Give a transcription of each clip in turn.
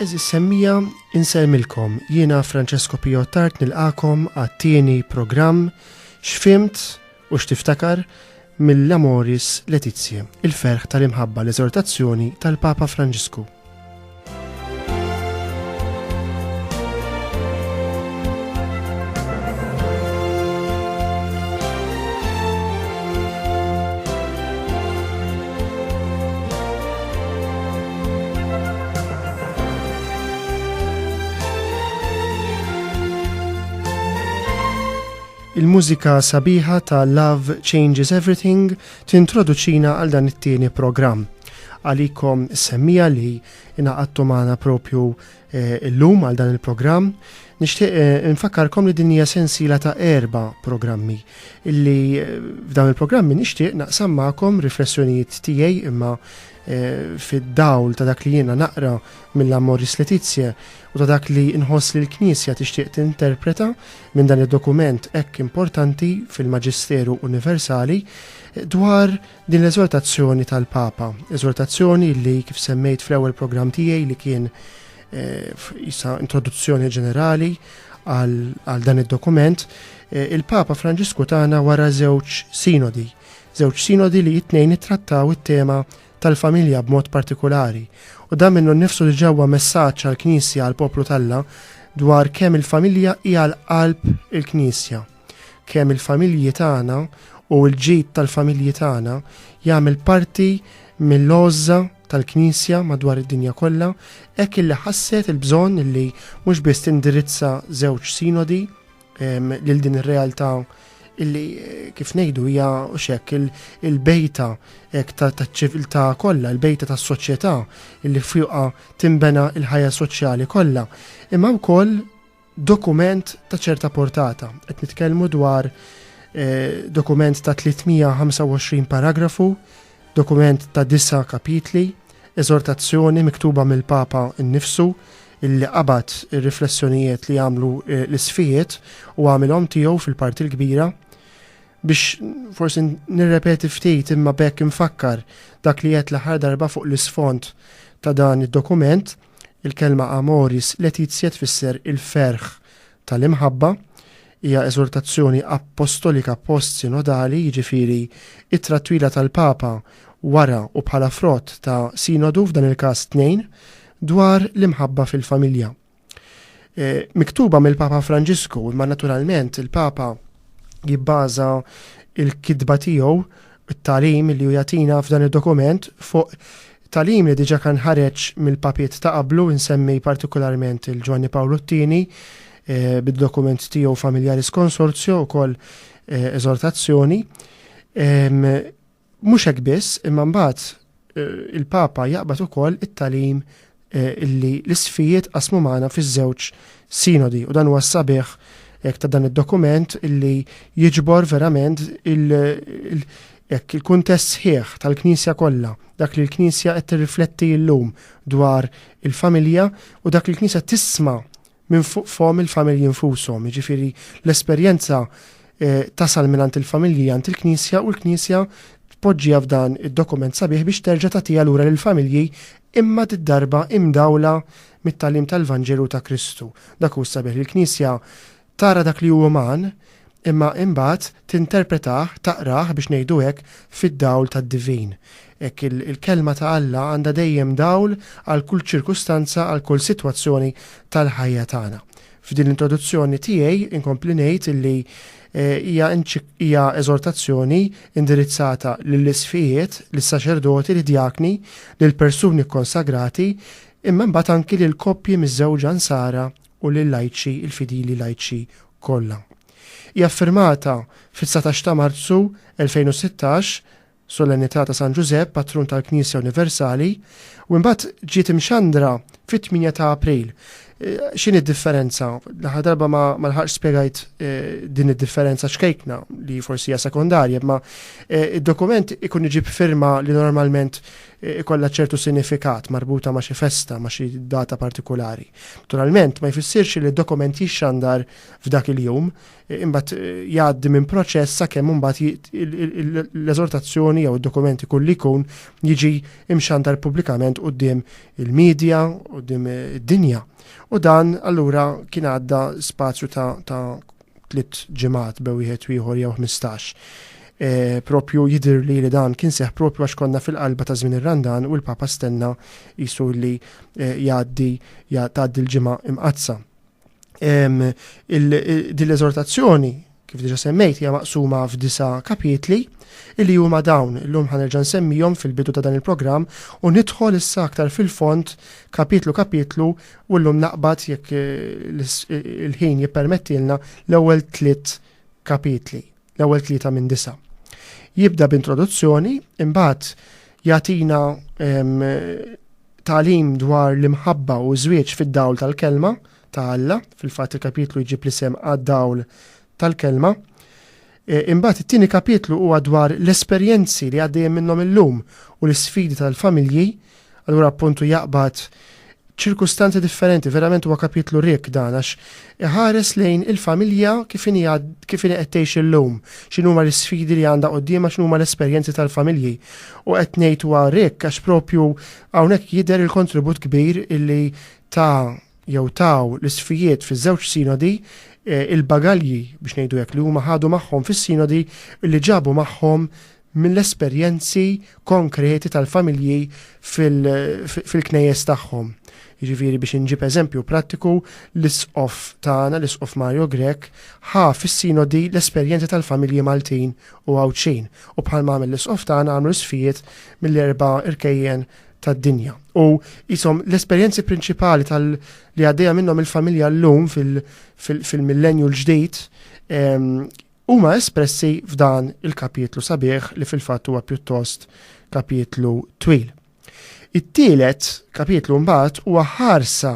Għeżież semmiegħa, insellmilkom. Jiena Francesco Pijottart nilqakom għat-tieni programm X'fimt u x'tiftakar mill-Amoris Letizia, il-ferħ tal-imħabba l-eżortazzjoni tal-Papa Franġisku. Il-mużika sabiħa ta' Love Changes Everything tintroduċina għal dan it-tieni programm. Għalikom semmija li inaqattu maħna propju eh, l-lum għal dan il-programm, nishtiq eh, nfakkarkom li dinja sensila ta' erba programmi illi eh, f'dan il-programmi nishtiq naqsam ma'kom riflessjonijiet tiegħi imma fid-dawl ta' dak li jiena naqra mill-Amoris Laetitiae u ta' dak li nħoss li l-Knisja tixtieq tinterpreta minn dan id-dokument hekk importanti fil-Maġisteru Universali dwar din l-eżortazzjoni tal-Papa, eżortazzjoni li kif semmejt fl-ewwel programm tiegħi li kien eh, jisa introduzzjoni ġenerali għal dan id-dokument, eh, il-Papa Franġisku tagħna wara żewġ sinodi Żewġ sinodi li t-tnejn ittrattaw it-tema tal-familja b'mod partikulari, u dan minnu nnifsu diġà huwa messaġġ għall-Knisja, għall-poplu t'Alla, dwar kemm il-familja hija l-qalb il-Knisja, kemm il-familji tagħna u l-ġid tal-familji tagħna jagħmel parti mill-għożża tal-Knisja madwar id-dinja kollha, hekk illi ħasset il-bżonn illi mhux biss tindirizza żewġ sinodi, lil din ir-realtà illi eh, kif ngħidu hija xek il-bejta taċ-ċiviltà kollha, il-bejta tas-soċjetà illi fjuqa timbena il-ħajja soċjali kollha, imma wkoll dokument ta' ċerta portata. Qed nitkellmu dwar eh, dokument ta' 325 paragrafu Dokument ta' disa' kapitli, eżortazzjoni miktuba mill-Papa nnifsu, illi qabad ir-riflessjonijiet li għamlu eh, l-isfijiet u għamilhom tiegħu fil-parti l-kbira biex forsi nirrepeti ftit imma bekk infakkar dak li qed l-aħħar darba fuq l-isfond ta' dan id-dokument, il-kelma amoris letizia tfisser il-ferħ tal-imħabba, hija eżortazzjoni appostolika post-sinodali, jiġifieri ittra twila tal-Papa wara u bħala frott ta' sinodu, f'dan il-każ tnejn, dwar l-imħabba fil-familja. E, miktuba mill-Papa Franġisku, imma naturalment il-Papa jibbaża il-kidba tiegħu, it-talim li hu jagħtina f'dan id-dokument fuq Tagħlim li diġà kan ħareġ mill-papiet ta' qablu, insemmi partikularment il-Ġwanni Pawlu t-Tieni, bid-dokument tiegħu Familiaris Consortio, ukoll eżortazzjoni. Mhux hekk biss, imma mbagħad il-Papa jaqbad ukoll it-tagħlim illi l-isfijiet qasmu magħna fiż-żewġ sinodi u dan huwa s-sabiħ hekk ta' dan id-dokument illi jiġbor verament Jekk il-kuntest sħiħ tal-Knisja kollha, dak li l-Knisja qed tirrifletti llum dwar il-familja u dak li l-Knisja tisma' minn fuq fomm il-familji nfushom, jiġifieri l-esperjenza tasal mingħand il-familji għand il-Knisja u l-Knisja tpoġġiha f'dan id-dokument sabiħ biex terġa' tagħtiha lura lill-familji imma did-darba imdawla mit-tagħlim tal-Vanġelu ta' Kristu. Dak hu s-sabiħ li l-Knisja Tara dak li hu uman, imma imbagħad tinterpretah, taqrah, biex ngħidu hekk, fid-dawl tad-divin. Hekk il-Kelma ta' Alla għandha dejjem dawl għal kull ċirkustanza, għal kull sitwazzjoni tal-ħajja tagħna. F'din l-introduzzjoni tiegħi inkompli ngħid illi hija hija eżortazzjoni indirizzata lill-isqfijiet, lis-saċerdoti, lid-djakni, lill-persuni kkonsagrati, imma imbagħad anki lill-koppji miżżewġa Nsara u lil-lajċi, il-fidili lajċi kollha. Hija ffirmata fit-dsatax ta' Marzu 2016, Solennità ta' San Ġużepp, Patrun tal-Knisja Universali, u imbagħad ġiet imxandra fit-tmienja ta' April. X'inhi d-differenza? L-aħħar darba ma lħaqx spjegajt din id-differenza ċkejkna li forsi hija sekondarja, imma id-dokument ikun iġib firma li normalment ikollha ċertu sinifikat marbuta ma' xi festa, ma' xi data partikulari. Naturalment, ma jfissirx li d-dokument jixxandar f'dak il-jum, imbagħad jgħaddi minn proċess sakemm imbagħad l-eżortazzjoni jew id-dokument ikun li jkun jiġi imxandar pubblikament quddiem il-medja, quddiem id-dinja. U dan allura kien għadda spazju ta' tliet ġimgħat bew wieħed u ieħor jew ħmistax. Eh, propju jidir li li dan kien seħ propju għax konna fil-qalba ta' żmien ir-Randan u l-Papa stenna jisu li eh, jgħaddi jgħaddi l-ġimgħa imqazza. Din l-eżortazzjoni kif diġa semmejt hija maqsuma f'disa kapitli illi huma dawn illum ħanerġa' nsemmihom fil-bidu ta' dan il-programm u nidħol issa aktar fil-font kapitlu kapitlu U llum naqbad, jekk il-ħin jippermettilna, l-ewwel tliet kapitli, l-ewwel tlieta minn disa'. Jibda b'introduzzjoni, imbagħad jagħtina tagħlim dwar l-imħabba u żwieġ fid-dawl tal-kelma ta' Alla, fil-fatt il-kapitlu jġib l-isem għad-dawl tal-kelma. Imbagħad it-tieni kapitlu huwa dwar l-esperjenzi li għaddejjin minnhom illum u l-isfidi tal-familji, allura appuntu jaqbad ċirkustanzi differenti, verament huwa kapitlu rikk dan għax iħares lejn il-familja kif inhi kif inhi qed tgħix illum, x'inhuma l-isfidi li għandha quddiemha, x'inhuma l-esperjenzi tal-familji. U qed ngħid huwa rikk għax propju hawnhekk jidher il-kontribut kbir illi ta jew taw l-isfijiet fiż-żewġ sinodi, il-bagalji, biex ngħidu hekk, li huma ħadu magħhom fis-sinodi u li ġabu magħhom mill-esperjenzi konkreti tal-familji fil-knejjes tagħhom. Jiġifieri biex inġib eżempju prattiku, l-Isqof tagħna, l-Isqof Mario Grech, ħa fis-sinodi l-esperjenzi tal-familji Maltin u Għawdxin u bħalma għamel l-Isqof tagħna għamlu l-isfijiet mill-erba' irkejjen tad-dinja. U jisom l-esperjenzi prinċipali tal li għaddejja minnhom il-familja llum fil-millenju l-ġdid ehm, huma espressi f'dan il-kapitlu sabiħ li fil-fatt huwa pjuttost kapitlu twil. It-tielet kapitlu mbagħad huwa ħarsa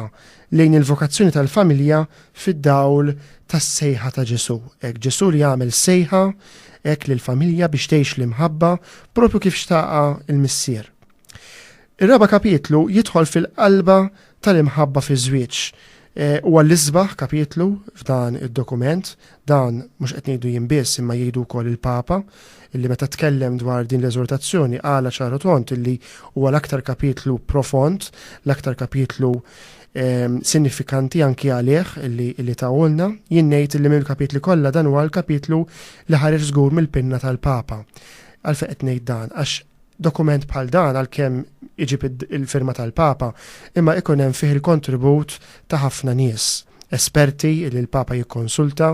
lejn il-vokazzjoni tal-familja fid-dawl tas-sejħa ta' Ġesù. Hekk Ġesù li għamel sejħa hekk lill-familja biex tgħix l-imħabba propju kif xtaqha l-Missier. Ir-raba' kapitlu jidħol fil-qalba tal-imħabba fiż-żwieġ. Eh, huwa l-isbaħ kapitlu f'dan id-dokument, Dan mhux qed ngħidu jien biss imma jgħidu wkoll il-Papa, illi meta tkellem dwar din l-eżortazzjoni qalha ċar u tond illi huwa l-aktar kapitlu profond, l-aktar kapitlu ehm, sinifikanti anki għalih illi, illi tawulna, jien ngħid illi mill-kapitli kollha dan huwa l-kapitlu li ħareġ żgur mill-pinna tal-Papa. Għalfejn qed ngħid dan għax Dokument bħal dan għalkemm iġib il-firma tal-Papa imma ikun hemm fih il-kontribut ta' ħafna nies, esperti li l-Papa jikkonsulta,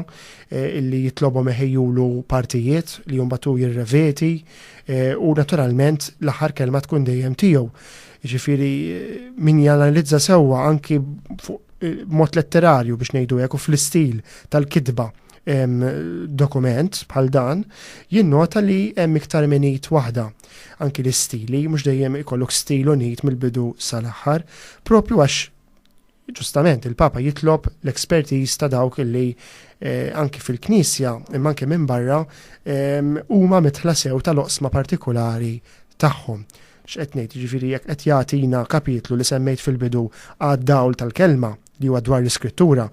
li jitlobhom iħejjulu partijiet li mbagħad hu jirrevedi u naturalment l-aħħar kelma tkun dejjem tiegħu. Jiġifieri min janalizza sewwa anki fuq mod letterarju biex ngħidu hekk u fl-istil tal-kitba dokument bħal dan jinnota li hemm iktar minn id waħda. Anki l-istili, mhux dejjem ikollok stil unit mill-bidu sal-aħħar, propju għax ġustament il-Papa jitlob l-ekspertiż ta' dawk li eh, anki fil-Knisja imma anki minn barra huma mitħla sew tal-oqsma partikolari tagħhom x'qed ngħid, jiġifieri jekk qed jagħtina kapitlu li semmejt fil-bidu għad-dawl tal-kelma, li huwa dwar l-iskrittura,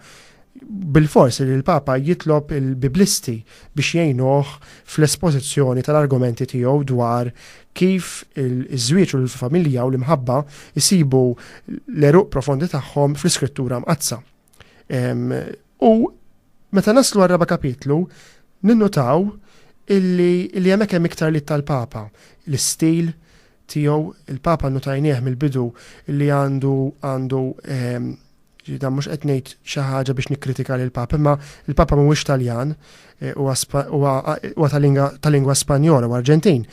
bil-fors li l-Papa jitlob il-Biblisti biex jgħinuh fl-espożizzjoni tal-argumenti tiegħu dwar kif iż-żwieġ u l-familja u l-imħabba jsibu l-eruq profondi tagħhom fl-iskrittura mqazza. U meta naslu għar-raba' kapitlu, ninnutaw illi hemmhekk hemm iktar li tal-Papa, l-istil, tiegħu, il-Papa notajnieh mill-bidu li għandu għandu ġifieri dan mhux qed ngħid xi ħaġa biex nikkritika lill-Papa, imma il-Papa mhuwiex Taljan, eh, huwa ta' lingwa Spanjola u Arġentin.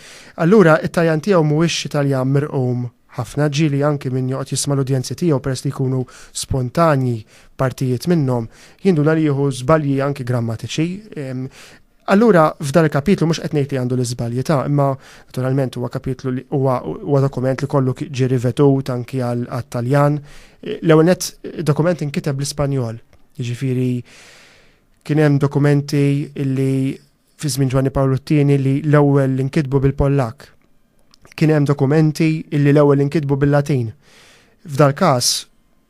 Allura it-Taljan tiegħu mhuwiex xi Taljan mirqum ħafna ġili anki minn joqgħod jisma' l-udjenzi tiegħu peress li jkunu spontanji partijiet minnhom, jinduna li jieħu żbalji anki grammatiċi. Allura f'dan il-kapitlu mhux qed ngħid li għandu l-iżbalji ta' imma naturalment huwa kapitlu li huwa huwa dokument li kollu ġie rivetut anki għat-Taljan. L-ewwel nett dokument inkiteb bl-Ispanjol. Jiġifieri kien hemm dokumenti li fi żmien Ġwanni Pawlu t-tieni li l-ewwel inkitbu bil-Pollak. Kien hemm dokumenti li l-ewwel inkitbu bil-Latin. F'dal każ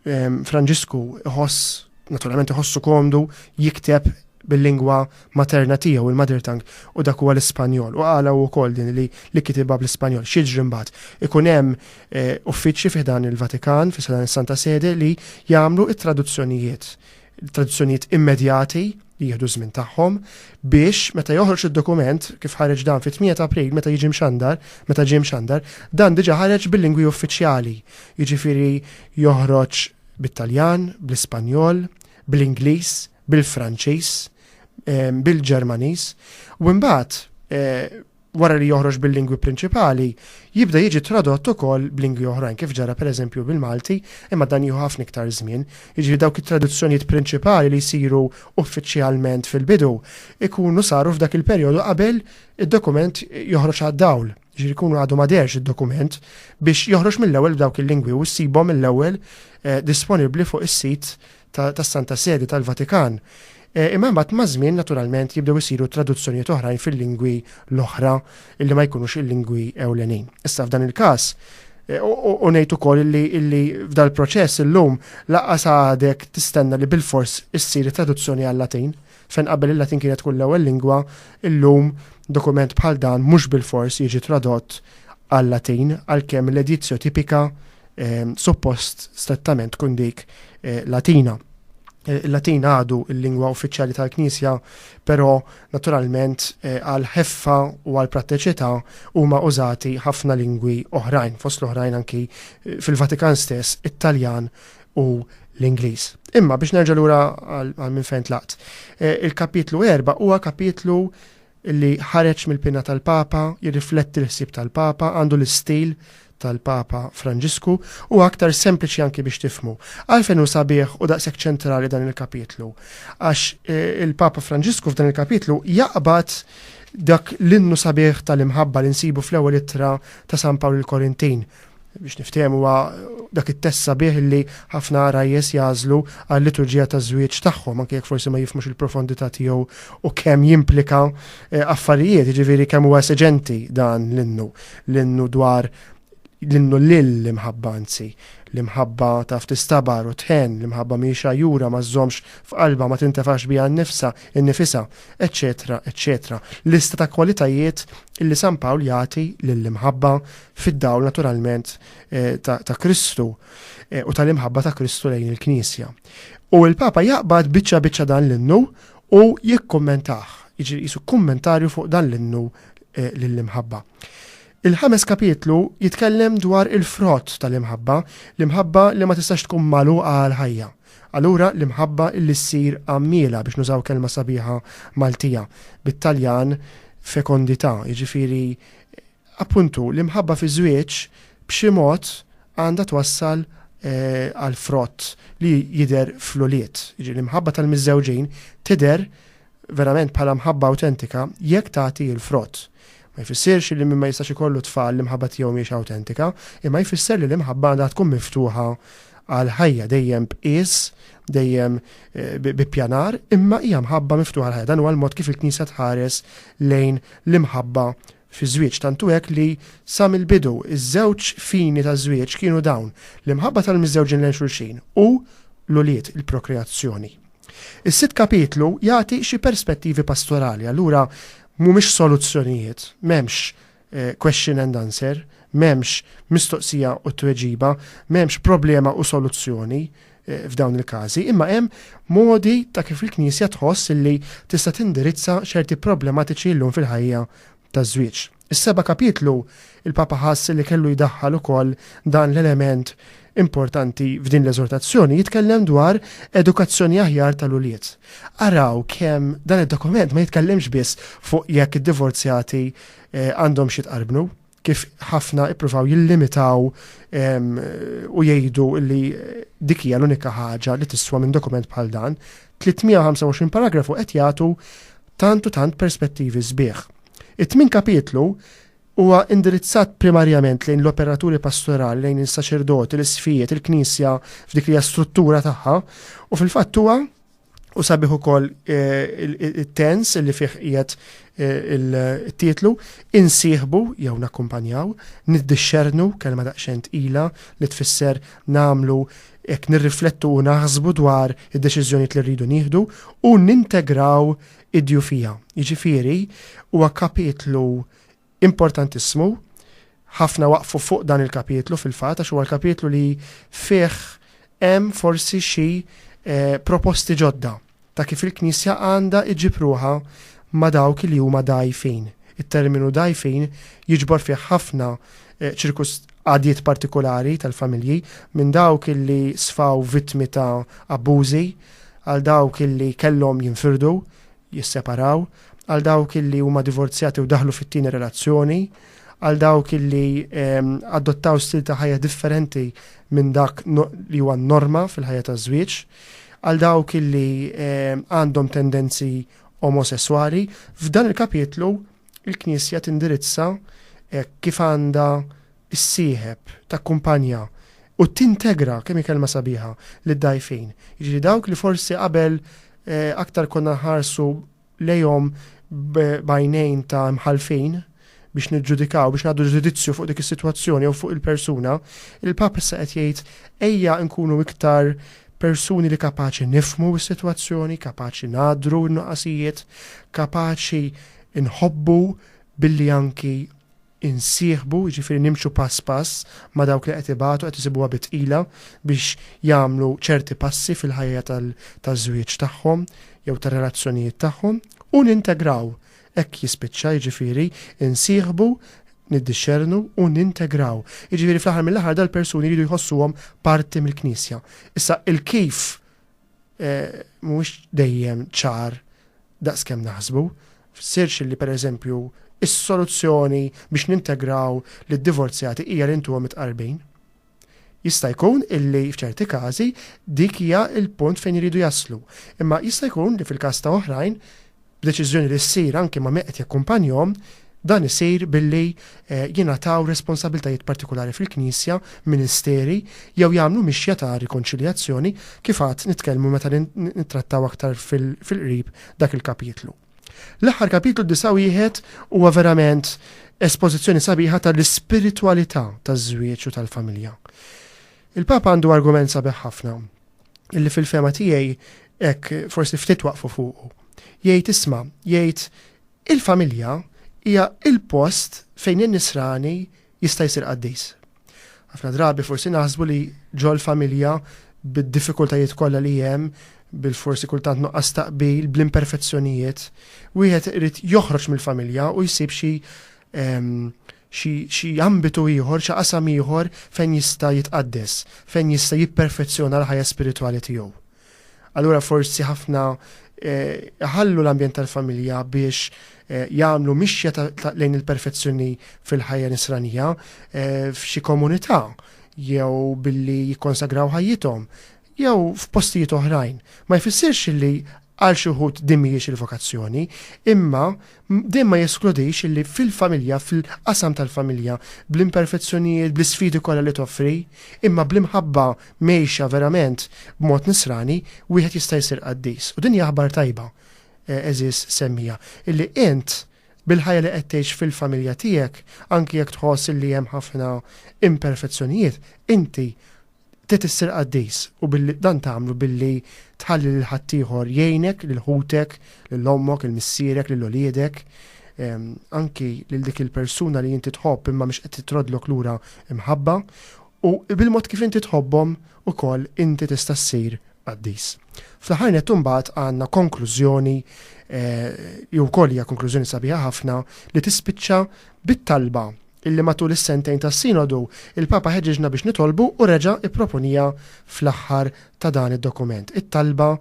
Franġisku iħoss, naturalment iħossu komdu jikteb bil-lingwa materna tiegħu il-mother tongue u dak huwa l-Ispanjol. U għala u wkoll din li li kitibha bl-Ispanjol. X'jiġri mbagħad? Ikun hemm eh, uffiċċji fih dan il-Vatikan, fih dan is-Santa Sede li jagħmlu it-traduzzjonijiet traduzzjonijiet immedjati li jieħdu żmien tagħhom biex meta joħroġ id-dokument kif ħareġ dan fit-8 ta' April meta jiġi mxandar, meta ġie mxandar, dan diġà ħareġ bil-lingwi uffiċjali, jiġifieri joħroġ bit-Taljan, bl-Ispanjol, bl-Ingliż, bil-Franċiż, ehm, bil-Ġermaniż, u imbagħad eh, wara li joħroġ bil-lingwi prinċipali, jibda jiġi tradott ukoll b'lingwi oħrajn, kif ġara pereżempju bil-Malti, imma dan jieħu ħafna iktar żmien. Jiġifieri dawk it-traduzzjonijiet prinċipali li jsiru uffiċjalment fil-bidu jkunu saru f'dak il-perjodu qabel id-dokument joħroġ għad-dawl. Jiġifieri jkunu għadu ma derx id-dokument biex joħroġ mill-ewwel b'dawk il-lingwi u ssibhom mill-ewwel eh, disponibbli fuq is-sit tas-Santa Sede tal-Vatikan, imma imbagħad maż-żmien naturalment jibdew isiru traduzzjonijiet oħrajn fil-lingwi l-oħra li ma jkunux il-lingwi ewlenin. Issa f'dan il-każ, u ngħid ukoll illi illi f'dal proċess illum laqqas għadek tistenna li bilfors issir traduzzjoni għal-Latin, fejn qabel il-Latin kienet tkun l-ewwel lingwa, illum dokument bħal dan mhux bilfors jiġi tradott għal-Latin għalkemm l-edizio tipica suppost strettament tkun dik eh, Latina. Eh, Il-Latin għadu il-lingwa uffiċjali tal-Knisja, però naturalment eh, għal ħeffa u għal pratteċità huma użati ħafna lingwi oħrajn, fost l-oħrajn anki fil-Vatikan stess, it-Taljan u l-Ingliż. Imma biex nerġa' lura għal minn fejn tlaqt. Il-kapitlu 4 huwa kapitlu li ħareġ mill-pinna tal-Papa, jirrifletti l-ħsieb tal-Papa, għandu l-istil tal-Papa Franġisku, huwa aktar sempliċi anki biex tifhmu. Għalfejn hu sabiħ u daqshekk ċentrali dan il-kapitlu? Għax eh, il-Papa Franġisku f'dan il-kapitlu jaqbad dak l-innu sabiħ tal-imħabba li nsibu fl-ewwel ittra ta' San Pawl il-Korintin, biex niftihem huwa dak it-tessa bih li ħafna rajjes jażlu għal liturġija ta' żwieġ tagħhom, anke jekk forsi ma jifmux il-profondità tiegħu u kemm jimplika eh, affarijiet, ġifieri kemm huwa eseġenti dan l-innu, l-innu dwar l-innu lil l-imħabba anzi, l-imħabba taf tistabar u tħen, l-imħabba miexa jura ma żomx f'qalba ma tintefax biha nnifsa, innifisa, eċċetera, eċċetera. Lista ta' kwalitajiet illi San Pawl jagħti lill-imħabba fid-dawl naturalment ta' Kristu u tal-imħabba ta' Kristu lejn il-Knisja. U l-Papa jaqbad biċċa biċċa dan l-innu u jikkummentah, jiġri jisu kummentarju fuq dan l-innu lill-imħabba. Il-ħames kapitlu jitkellem dwar il-frott tal-imħabba, l-imħabba li ma tistax tkun malu għal ħajja. Allura l-imħabba li ssir għammila biex nużaw kelma sabiħa Maltija, bit-Taljan fekondità, jiġifieri Appuntu, l-imħabba fiż-żwieġ b'xi mod għandha twassal għal frott li jidher fl-ulied. Jiġifieri l-imħabba tal-miżżewġin tidher verament bħala mħabba awtentika jekk tagħti l-frott. Ma jfissirx li min ma jistax ikollu tfal l-imħabba tiegħu mhijiex awtentika, imma jfisser li l-imħabba għandha tkun miftuħa għal ħajja dejjem b'qies, dejjem bi ppjanar, imma hija mħabba miftuħa għall-ħajja. Dan huwa l-mod kif il-Knisja tħares lejn l-imħabba fiż-żwieġ tantu hekk li, sa mill-bidu, iż-żewġ fini taż-żwieġ kienu dawn, l-imħabba tal-miżżewġin lejn xulxin u, l-ulied, il-prokreazzjoni. Is-sitt kapitlu jagħti xi perspettivi pastorali, allura mhumiex soluzzjonijiet, m'hemmx question and answer, m'hemmx mistoqsija u tweġiba, m'hemmx problema u soluzzjoni, f'dawn il-każi, imma hemm modi ta' kif il-Knisja tħoss li tista' tindirizza ċerti problematiċi llum fil-ħajja taż-żwieġ. Is-seba' kapitlu, il-Papa ħass li kellu jdaħħal ukoll dan l-element importanti f'din l-eżortazzjoni, jitkellem dwar edukazzjoni aħjar tal-ulied. Araw kemm dan id-dokument ma jitkellimx biss fuq jekk id-divorzjati eh, għandhom xi tqarbnu, kif ħafna ippruvaw jillimitaw u jgħidu li dik hija l-unika ħaġa li tiswa minn dokument bħal dan, 325 paragrafu qed jagħtu tant u tant perspettivi sbieħ. It-tmin kapitlu huwa indirizzat primarjament lejn l-operaturi pastorali, lejn is-saċerdoti, l-isfijiet, il-knisja f'dik li struttura tagħha, u fil-fatt huwa u sabiħ ukoll it-tens li fih qiegħed il-titlu, insieħbu jew nakkumpanjaw, niddixxernu kelma daqsxejn tqila li tfisser nagħmlu jekk nirriflettu u naħsbu dwar id-deċiżjonijiet li rridu nieħdu u nintegraw id-djufija. Jiġifieri huwa kapitlu Importantissimu, ħafna waqfu fuq dan il-kapitlu fil-fatt għax huwa l-kapitlu li fih hemm forsi xi proposti ġodda ta' kif il-Knisja għandha iġġib ruħha ma' dawk li huma dgħajfin. It-terminu dgħajfin jiġbor fih ħafna ċirkus għadiet partikulari tal-familji, minn dawk li sfaw vittmi ta' abbużi għal dawk li kellhom jinfirdu, jisseparaw, għal dawk illi huma divorzjati u daħlu fit-tieni relazzjoni, għal dawk illi adottaw stil ta' ħajja differenti minn dak li huwa norma fil-ħajja taż-żwieġ, għal dawk illi għandhom tendenzi omosessuali, f'dan il-kapitlu il-Knisja tindirizza eh, kif għandha issieħeb, takkumpanja u tintegra, kemm hi kelma sabiħa, lid-dgħajfin. Jiġifieri dawk li forsi qabel aktar konna nħarsu lejhom b'għajnejn ta' imħallfin biex niġġudikaw, biex ngħaddu ġudizzju fuq dik is-sitwazzjoni jew fuq il-persuna, il-Pap issa qed jgħid ejja nkunu iktar persuni li kapaċi nifmu s-sitwazzjoni, kapaċi nadru n-nuqqasijiet, kapaċi nħobbu billi anki insieħbu, jiġifieri nimxu pass pass ma' dawk li qed ibatu, qed isibuha bi tqila biex jagħmlu ċerti passi fil-ħajja taż-żwieġ tagħhom jew tar-relazzjonijiet tagħhom, u nintegraw, hekk jispiċċa, jiġifieri insieħbu, niddixxernu u nintegraw. Jiġifieri fl-aħħar mill-aħħar dal-persuni jridu jħossuhom parti mill-Knisja. Issa il-kif mhuwiex dejjem ċar daqs kemm naħsbu. F'sirx li, per eżempju, is-soluzzjoni biex nintegraw lid-divorzjati hija li ntuhom it-tqarbin. Jista' jkun li f'ċerti każi dik hija l-punt fejn iridu jaslu, imma jista' jkun li fil-każ ta' oħrajn b'deċiżjoni li ssir anki ma' min qed jakkumpanjahom, dan isir billi jingħataw responsabbiltajiet partikulari fil-Knisja, ministeri, jew jagħmlu mixja ta' rikonċiljazzjoni, kif għad nitkellmu meta nittrattaw aktar fil-qrib dak il-kapitlu. L-aħħar kapitlu 9:1 huwa verament espożizzjoni sabiħa tal-ispiritwalità taż-żwieġ u tal-familja. Il-Papa għandu argument sabiħ ħafna. illi fil-fema tiegħi hekk forsi ftit waqfu fuqu. Jgħid isma, jgħid il-familja hija il-post fejn in-nisrani jista' jsir qaddis. Ħafna drabi forsi naħsbu li ġol familja bid-diffikultajiet kollha li hemm bil-forsi kultant nuqqas taqbil, bl-imperfezzjonijiet, wieħed irid joħroġ mill-familja u jsib xi ehm, xi xi ambitu ieħor, xi qasam ieħor fejn jista' jitqaddes, fejn jista' jipperfezzjona l-ħajja spiritwali tiegħu. Allura forsi ħafna iħallu l-ambjent tal-familja biex jagħmlu mixja lejn il-perfezzjoni fil-ħajja nisranija f'xi komunità jew billi jikkonsagraw ħajjithom jew f'postijiet oħrajn, ma jfissirx li għal xi wħud din mhijiex il-vokazzjoni, imma dejjem ma jeskludix li fil-familja, fil-qasam tal-familja, bl-imperfezzjonijiet, bl-isfidi kollha li toffri, imma bl-imħabba mgħejxa verament b'mod nisrani, wieħed jista' jsir qaddis. U din hija aħbar tajba, għeżież semmiegħa, illi int, bil-ħajja li qed tgħix fil-familja tiegħek, anki jekk tħoss illi hemm ħafna imperfezzjonijiet, inti Trid issir qaddis, u billi dan tagħmlu billi tħalli lil ħaddieħor jgħinek, lil ħutek, lil ommok, lil missierek, lil uliedek, anki lil dik il-persuna li inti tħobb imma mhix qed titroddlok lura mħabba, u bil-mod kif inti tħobbhom ukoll inti tista' ssir qaddis. Fl-aħħar nett imbagħad għandna konklużjoni li wkoll hija konklużjoni sabiħa ħafna li tispiċċa bit-talba illi matul is-sentejn tas-Sinodu, il-Papa ħeġġiġna biex nitolbu u reġa' ipproponiha fl-aħħar ta' dan id-dokument, it-talba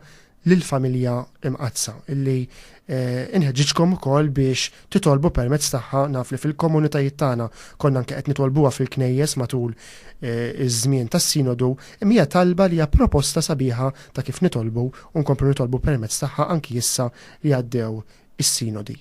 lill-Familja Imqaddsa, illi inħeġġiġkom ukoll biex titolbu permezz tagħha, naf li fil-komunitajiet tagħna konna anke qed nitolbuha fil-Knejjes matul iż-żmien tas-Sinodu, imma hija talba li hija proposta sabiħa ta' kif nitolbu u nkomplu nitolbu permezz tagħha anki issa li għaddew is-Sinodi.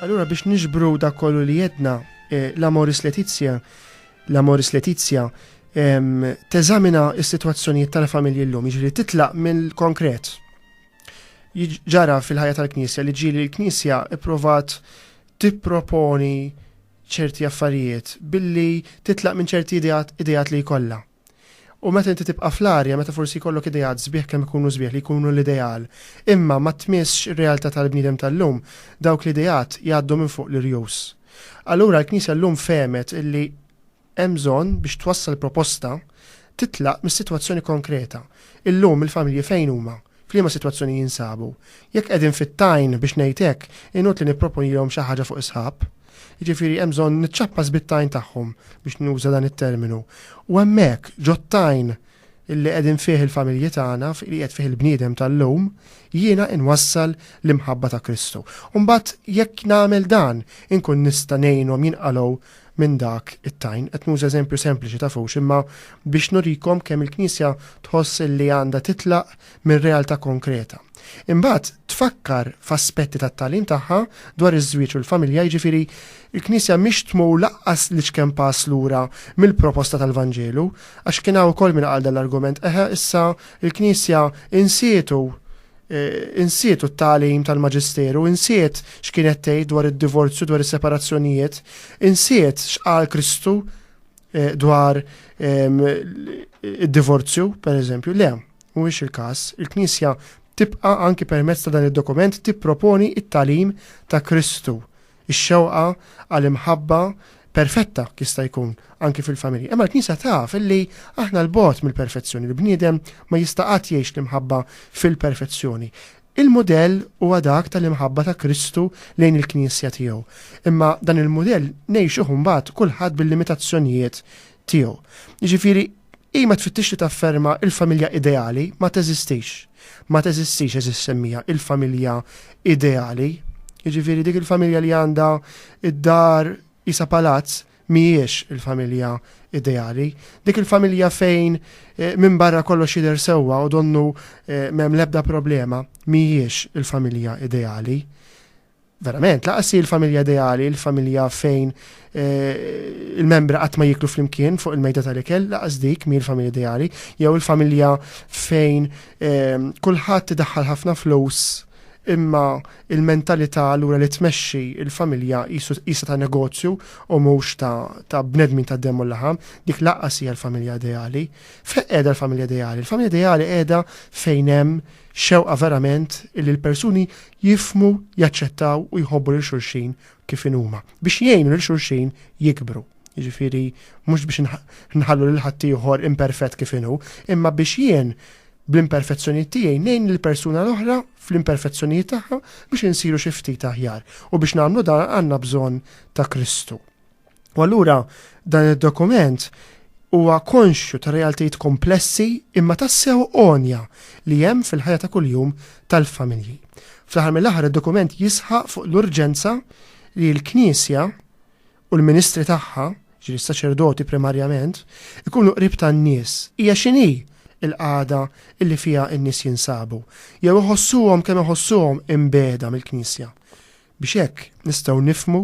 Allura biex niġbru dak kollu li għedna, eh, l-Amoris Letizia, l-Amoris Letizia, ehm, teżamina s-sitwazzjonijiet tal-familji llum, jiġri titlaq mill-konkret. Ġara fil-ħajja tal-Knisja li ġieli l-Knisja ipprovat tipproponi ċerti affarijiet billi titlaq minn ċerti ideat li jkollha. U meta inti tibqa' fl-arja, meta forsi jkollok ideat sbieħ kemm ikunu sbieħ li jkunu l-ideal, imma ma tmissx ir-realtà tal-bniedem tal-lum, dawk l-ideat jgħaddu minn fuq l-irjus. Allura l-Knisja llum fehmet illi hemm bżonn biex twassal proposta titlaq mis-sitwazzjoni konkreta. Illum il-familji fejn huma? F'liema sitwazzjoni jinsabu? Jekk qegħdin fit-tajn biex ngħid hekk, inutli nipproponilhom xi ħaġa fuq is-sħab. Jiġifieri hemm bżonn niċċappas bit-tajn tagħhom biex nuża dan it-terminu. U hemmhekk ġot-tajn illi qegħdin fih il-familji tagħna, li qed fih il-bniedem tal-lum, jiena inwassal l-imħabba ta' Kristu. Mbagħad jekk nagħmel dan, inkun nista' ngħinhom jinqalgħu minn dak it-tajn. Qed nuża eżempju sempliċi ta' fux, imma biex nurikom kemm il-Knisja tħoss li għandha titlaq minn realtà konkreta. Imbagħad tfakkar f'aspetti tat-tagħlim tagħha dwar iż-żwieġ u l-familja, jiġifieri, il-Knisja mhix tmur lanqas l-iċken pass lura mill-proposta tal-Vanġelu, għax kien hawn ukoll min qal dan l-argument, eħe issa l-Knisja insietu insietu t-tagħlim tal-Maġisteru, insiet x'kienet tgħid dwar id-divorzju, dwar is-separazzjonijiet, insiet x'qal Kristu dwar id-divorzju, pereżempju, le. Mhuwiex il-każ. Il-Knisja tibqa' anki permezz ta' dan id-dokument tipproponi t-tagħlim ta' Kristu, ix-xewqa għal imħabba perfetta jista' jkun anki fil-familji. Imma l-Knisja taf li aħna 'l bogħod mill-perfezzjoni, l-bniedem ma jista' qatt jgħix l-imħabba fil-perfezzjoni. Il-mudell huwa dak tal-imħabba ta' Kristu lejn il-Knisja tiegħu. Imma dan il-mudell ngħixuh imbagħad kulħadd bil-limitazzjonijiet tiegħu. Jiġifieri Hi ma tfittix li tafferma l-familja ideali, ma teżistix. Ma teżistix, għeżież semmija, il-familja ideali. Jiġifieri dik il-familja li għandha d-dar qisha palazz mhijiex il-familja ideali. Dik il-familja fejn eh, minn barra kollox jidher sewwa u donnu eh, m'hemm l-ebda problema mhijiex il-familja ideali. Verament, lanqas hi l-familja ideali, l-familja fejn il-membri qatt ma jiklu flimkien fuq il-mejda tal-ikel, lanqas dik mhi l-familja ideali, jew il-familja fejn kulħadd idaħħal ħafna flus imma il-mentalità lura li tmexxi il-familja jisa ta' negozju u mhux ta' bnedmin ta' demm u laħam, dik lanqas hija l-familja ideali. Fejn qiegħda l-familja ideali? Il-familja ideali qiegħda fejn hemm xewqa verament li l-persuni jifhmu, jaċċettaw u jħobbu lil xulxin kif inhuma, biex jgħinu lil xulxin jikbru. Jiġifieri mhux biex nħallu lil ħaddieħor imperfett kif inhu, imma biex jien bl-imperfezzjonijiet tiegħi ngħin lill persuna l-oħra fl-imperfezzjonijiet tagħha biex insiru xi ftit aħjar u biex nagħmlu dan għandna bżonn ta' Kristu. U allura dan id-dokument huwa konxju ta' realtajiet komplessi imma tassew onja li hemm fil-ħajja ta' kuljum tal-familji. Fl-aħħar mill-aħħar id-dokument jisħaq fuq l-urġenza li l-Knisja u l-ministri tagħha, ġifieri s-saċerdoti primarjament, ikunu qrib tan-nies. Hija x'inhi l-qagħda li fiha n-nies jinsabu? Jew iħossuhom kemm iħossuhom imbegħda mill-Knisja? Biex hekk nistgħu nifhmu,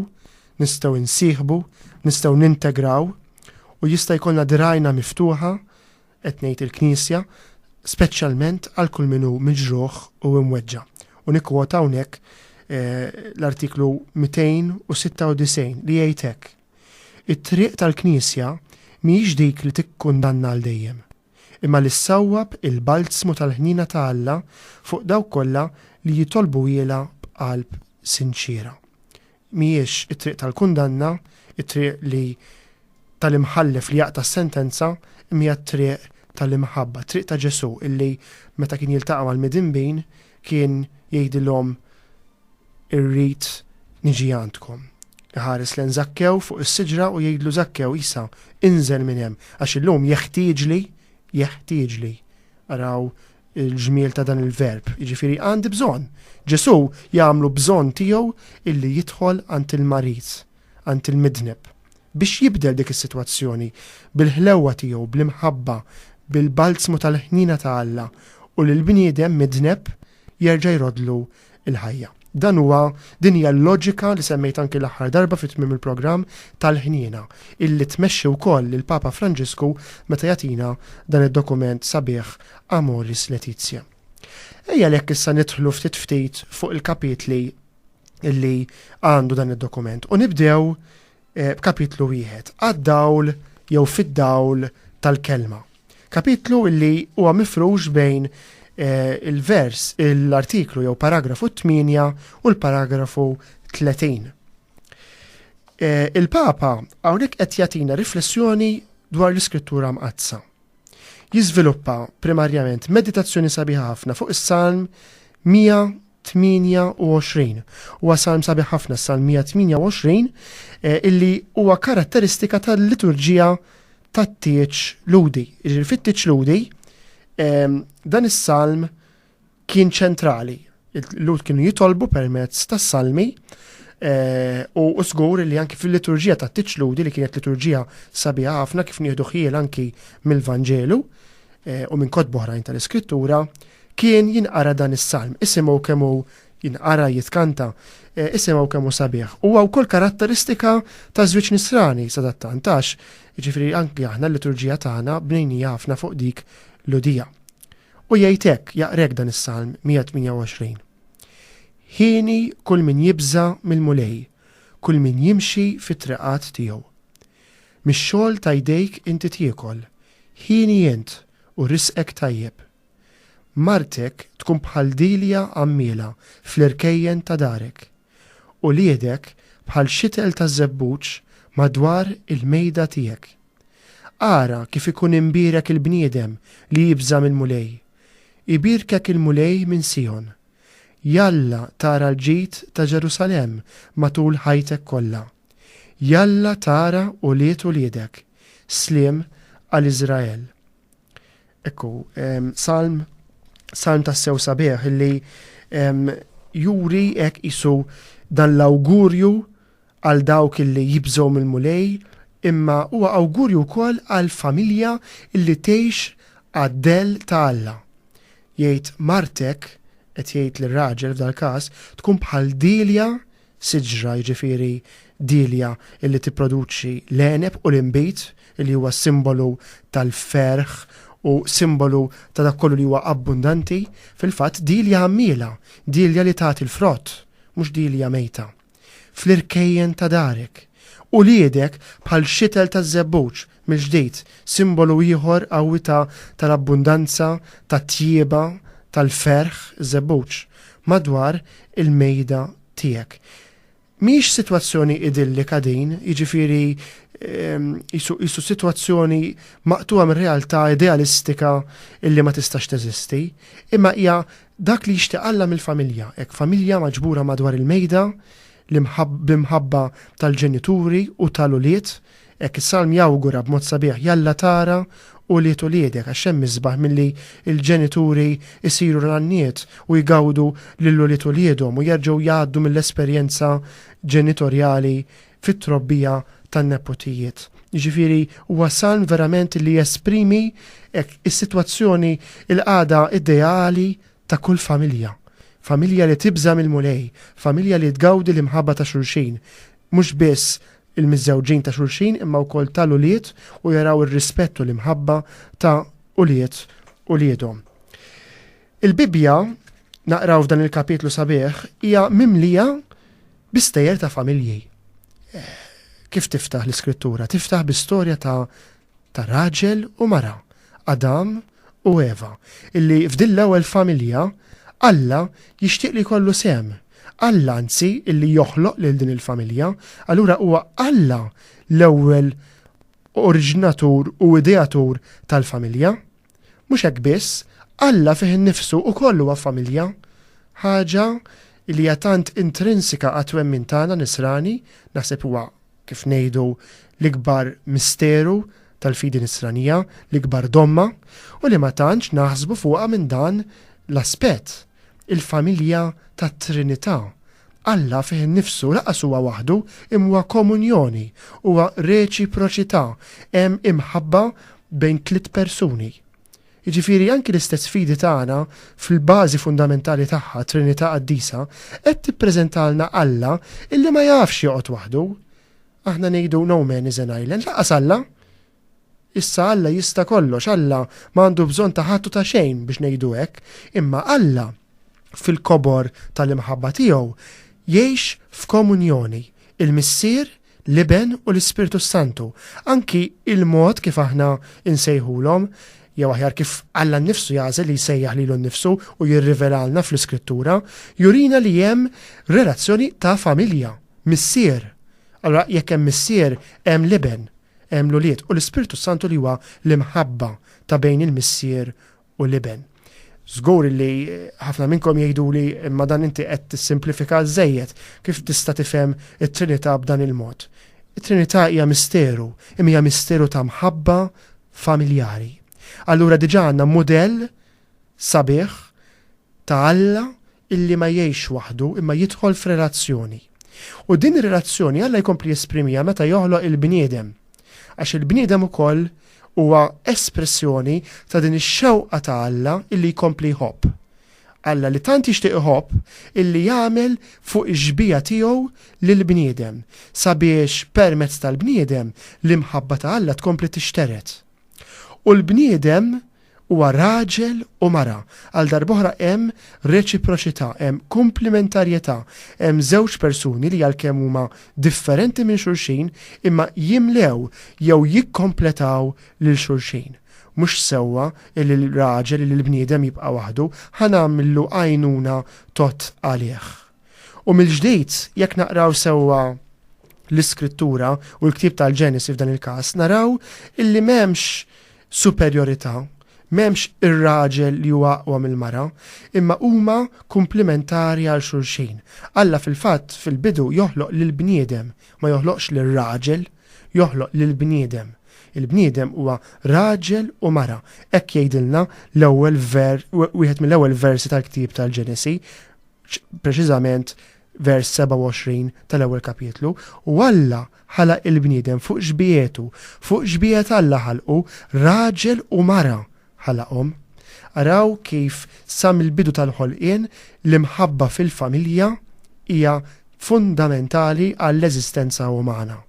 nistgħu nsieħbu, nistgħu nintegraw u jista' jkollna dirgħajna miftuħa, qed ngħid il-Knisja, speċjalment għal kull min hu miġruħ u imweġġa'. U nikkwota hawnhekk l-Artiklu 296 li jgħid hekk, It-triq tal-Knisja mhijiex dik li tikkundanna għal dejjem, imma li ssawwab il-balzmu tal-ħniena ta' Alla fuq dawk kollha li jitolbuhielha b'qalb sinċiera. Mhijiex it-triq tal-kundanna, it-triq li tal-imħallef li jaqta' s-sentenza, imma hija t-triq tal-imħabba, t-triq ta' Ġesù illi meta kien jiltaqa' mal-midinbin kien jgħidilhom Irrid niġi għandkom. Iħares lejn Żakkew fuq is-siġra u jgħidlu, Żakkew, Isa, inżel minn hemm, għax illum jeħtieġli, jeħtieġli. Araw il-ġmiel ta' dan il-verb, jiġifieri għandi bżonn. Ġesù jagħmlu bżonn tiegħu illi jidħol għand il-marid, għand il-midneb, biex jibdel dik is-sitwazzjoni bil-ħlewwa tiegħu, bl-imħabba, bil-balzmu tal-ħniena ta' Alla u lill-bniedem midneb jerġa' jroddlu il-ħajja. Dan huwa din hija l-loġika li semmejt anki l-aħħar darba fit tmiem il-programm tal-ħniena illi tmexxi wkoll lil Papa Franġisku meta jagħtina dan id-dokument sabiħ Amoris Laetitia. Ejja lek issa nidħlu ftit ftit fuq il-kapitli illi għandu dan id-dokument u nibdew b'kapitlu wieħed, għad-dawl jew fid-dawl tal-kelma. Kapitlu li huwa mifrux bejn il-vers, l-artiklu jew paragrafu 8 u l-paragrafu 30. Il-Papa hawnhekk qed jagħtina riflessjoni dwar l-Iskrittura Mqaddsa. Jiżviluppa primarjament meditazzjoni sabiħa ħafna fuq is-Salm 128. Huwa salm sabiħ ħafna s-Salm 128 eh, illi huwa karatteristika tal-liturġija tat-tieġ ludi. Ġifieri fit-tieġ ludi ehm, dan is-salm kien ċentrali. Il-Lhud kienu jitolbu permezz tas-salmi eh, u żgur li anki fil-liturġija ta' tiċludi li kienet liturġija sabiħa ħafna kif nieħdu ħjiel anki mill-Vanġelu eh, u minn kotbu oħrajn tal-Iskrittura kien jinqara dan is-salm isimgħu kemm hu jinqara jitkanta eh, isimgħu kemm hu sabiħ. Huwa wkoll karatteristika ta' żwieġ nisrani sadattantax, jiġifieri anki aħna l-liturġija tagħna bnejnija ħafna fuq dik l-udija. U jgħid hekk, jaqra hekk dan is-Salm 128, Hieni kull min jibża' mill-Mulej, kull min jimxi fit-triqat tiegħu. Mix-xogħol ta' jdejk inti tiekol, hieni int u risqek tajjeb. Martek tkun bħal dilja għammiela fl-irkejjen ta' darek. Uliedek bħal xitel taż-żebbuġ madwar il-mejda tiegħek. Ara kif ikun imbierek il-bniedem li jibża' mill-Mulej! Ibierkek il-Mulej minn Sijon. Jalla tara l-ġid ta' Ġerusalemm matul ħajtek kollha. Jalla tara ulied uliedek. Sliem għal Iżrael. Ekku, salm, salm ta' sew sabiħ illi juri ek isu dan l-awgurju għal dawk illi jibżgħu mill-mulej, imma huwa awgurju wkoll għal familja illi tgħix għad-del ta' Alla. Jgħid martek, qed jgħid lir-raġel f'dal-każ, tkun bħal dilja siġra jiġifieri dielja li tipproduċi l-għeneb u l-inbid li huwa simbolu tal-ferħ u simbolu ta' dak kollu li huwa abbundanti, fil-fatt dielja għammiela, dielja li tagħti l-frott, mhux dielja mejta. Fl-irkejjen ta' darek. Uliedek bħal xitel taż-żebbuġ, Mill-ġdid, simbolu ieħor qawwi ta' tal-abbundanza, tat-tjieba, tal-ferħ, iż-żebbuġ, madwar il-mejda tiegħek. Mhijiex sitwazzjoni idillika din, jiġifieri qisu qisu sitwazzjoni maqtugħa minn realtà idealistika illi ma tistax teżisti, imma hija dak li jixtieq Alla mill-familja, hekk familja maġbura madwar il-mejda, l-imħab bl-imħabba tal-ġenituri u tal-ulied, Hekk is-salm jawgura b'mod sabiħ, Jalla tara ulied uliedek, għax x'hemm isbaħ milli l-ġenituri jsiru l-għanniet u jgawdu lil ulied uliedhom u jerġgħu jgħaddu mill-esperjenza ġenitorjali fit-trobbija tan-neputijiet. Jiġifieri huwa salm verament li jesprimi hekk is-sitwazzjoni, il-qagħda ideali ta' kull familja, familja li tibża' mill-Mulej, familja li tgawdi l-imħabba ta' xulxin, mhux biss il-miżżewġin ta' xulxin imma wkoll tal-ulied u jaraw ir-rispett u l-imħabba ta' ulied uliedhom. Il-Bibbja, naqraw f'dan il-kapitlu sabiħ, hija mimlija bi stejjer ta' familji. Kif tiftaħ l-Iskrittura? Tiftaħ bi storja ta' ta' raġel u mara, Adam u Eva, illi f'din l-ewwel familja Alla jixtieq li jkollu sehem. Alla anzi illi joħloq lil din il-familja. Allura huwa Alla l-ewwel oriġinatur u ideatur tal-familja. Mhux hekk biss, Alla fih innifsu ukoll huwa familja, ħaġa illi hija tant intrinsika għat-twemmin tagħna Nisrani, naħseb huwa kif ngħidu, l-ikbar misteru tal-fidi Nisranija, l-ikbar domma, u li ma tantx naħsbu fuqha minn dan l-aspett, il-familja tat-Trinità. Alla fih innifsu lanqas huwa waħdu, imma huwa komunjoni, huwa reċiproċità, hemm imħabba bejn tliet persuni, Jiġifieri anki l-istess fidi tagħna fil-bażi fundamentali tagħha, Trinità Qaddisa, qed tippreżentalna Alla illi ma jafx joqgħod waħdu. Aħna ngħidu no man is an island, lanqas Alla! Issa Alla jista' kollox, Alla ma għandu bżonn ta' ħadd u ta' xejn biex ngħidu hekk, imma Alla fil-kobor tal-imħabba tiegħu jgħix f'komunjoni, il-Missier l-Iben u l-Ispirtu s-Santu, anki il-mod kif aħna insejħulhom, jew aħjar kif Alla nnifsu jagħżel li jsejjaħ lilu nnifsu u jirrivelalna fl-Iskrittura, jurina li hemm relazzjoni ta' familja, missier. Allura jekk hemm missier, hemm l-Iben, hemm l-ulied u l-Ispirtu s-Santu li huwa l-imħabba ta' bejn il-missier u l-Iben. Żgur li ħafna minnkom jgħiduli imma dan inti qed tissimplifika żejjed, kif tista' tifhem it-Trinità b'dan il-mod? It-Trinità hija misteru, imma hija misteru ta' mħabba familjari. Allura diġà għandna mudell sabiħ ta' Alla illi ma jgħixx waħdu imma jidħol f'relazzjoni. U din ir-relazzjoni Alla jkompli jesprimiha meta joħloq il-bniedem. Għax il-bniedem ukoll huwa espressjoni ta' din ix-xewqa ta' Alla illi jkompli jħobb. Alla li tant jixtieq iħobb illi jagħmel fuq ix-xbieha tiegħu lill-bniedem sabiex permezz tal-bniedem l-imħabba ta' Alla tkompli tixtered. U l-bniedem Huwa raġel u mara. Għal darb'oħra hemm reċiproċità, hemm kumplimentarjetà, hemm żewġ persuni li għalkemm huma differenti minn xulxin imma jimlew jew jikkompletaw lil xulxin. Mhux sewwa li l-raġel, illi l-bniedem jibqa' waħdu, ħa nagħmlu għajnuna tgħodd għalih. U mill-ġdid, jekk naqraw sewwa l-Iskrittura, u l-ktieb tal-Ġenesi f'dan il-każ, naraw illi m'hemmx superjorità, m'hemmx ir-raġel li huwa aqwa mill-mara, imma huma kumplimentari għal xulxin. Alla fil-fatt fil-bidu joħloq lill-bniedem, ma joħloqx lir-raġel, joħloq lill-bniedem. Il-bniedem huwa raġel u mara, hekk jgħidilna l-ewwel ver, wieħed mill-ewwel versi tal-ktieb tal-Ġenesi, preċiżament vers 27 tal-ewwel kapitlu, u Alla ħalaq il-bniedem fuq xbiehetu, fuq xbiehet Alla ħalqu, raġel u mara ħalaqhom. Araw kif sa mill-bidu tal-ħolqien l-imħabba fil-familja hija fundamentali għall-eżistenza umana.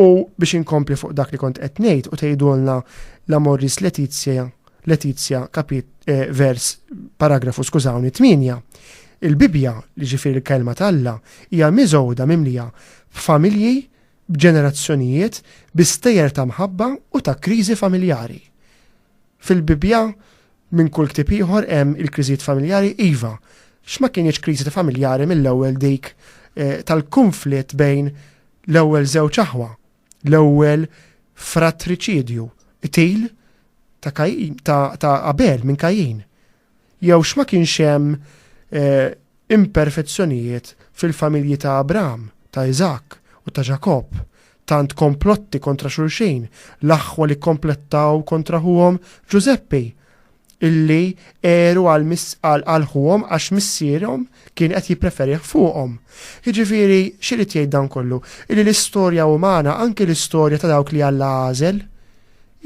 U biex inkompli fuq dak li kont qed ngħid u tgħidulna la Morris Letizia Letizia, kapit, eh, vers, paragrafu, skużawni, 8. Il-Bibbja, li ġifieri l-Kelma t'Alla, hija miżgħuda mimlija b'familji, b'ġenerazzjonijiet, bi stejjer ta' mħabba u ta' kriżi familjari. Fil-Bibbja, minn kull ktieb ieħor hemm il-kriżijiet familjari iva, x'ma kienx kriżi ta' familjari mill-ewwel dik eh, tal-kunflitt bejn l-ewwel żewġ aħwa, L-ewwel fratriċidju, qtil ta' Kajin, ta', ta Abel minn Kajin. Jew x'ma kienx hemm eh, imperfezzjonijiet fil-familji ta' Abraham, ta' Iżak u ta' Ġakobb, tant komplotti kontra xulxin, l-aħwa li komplettaw kontra ħuhom Ġużeppi, illi għeru għal għal ħuhom għax missierhom kien qed jippreferih fuqhom. Jiġifieri x'irid jgħid dan kollu? Illi l-istorja umana, anke l-istorja ta' dawk li Alla għażel,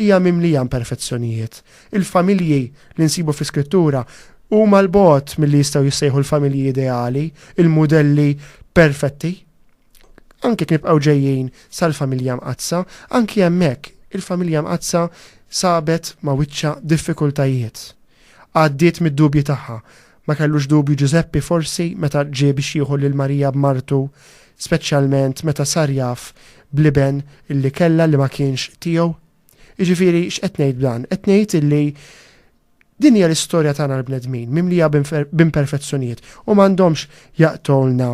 hija mimlija imperfezzjonijiet. Il-familji li nsibu fl-Iskrittura huma l-bogħod milli jistgħu jissejħu l-familji ideali, il-mudelli perfetti. Anke nibqgħu ġejjin sal-familja Mqaddsa, anki hemmhekk il-familja Mqaddsa sabet ma' wiċċha diffikultajiet. Għaddiet mid-dubji tagħha. Ma kellux dubju Ġużeppi forsi meta ġie biex jieħu lil Marija b'martu, speċjalment meta sar jaf bl-iben li kellha li ma kienx tiegħu? Jiġifieri x'qed ngħid b'dan? Qed ngħid illi Din hija l-istorja tagħna l-bnedmin, mimlija b'imperfezzjonijiet, u m'għandhomx jaqtgħulna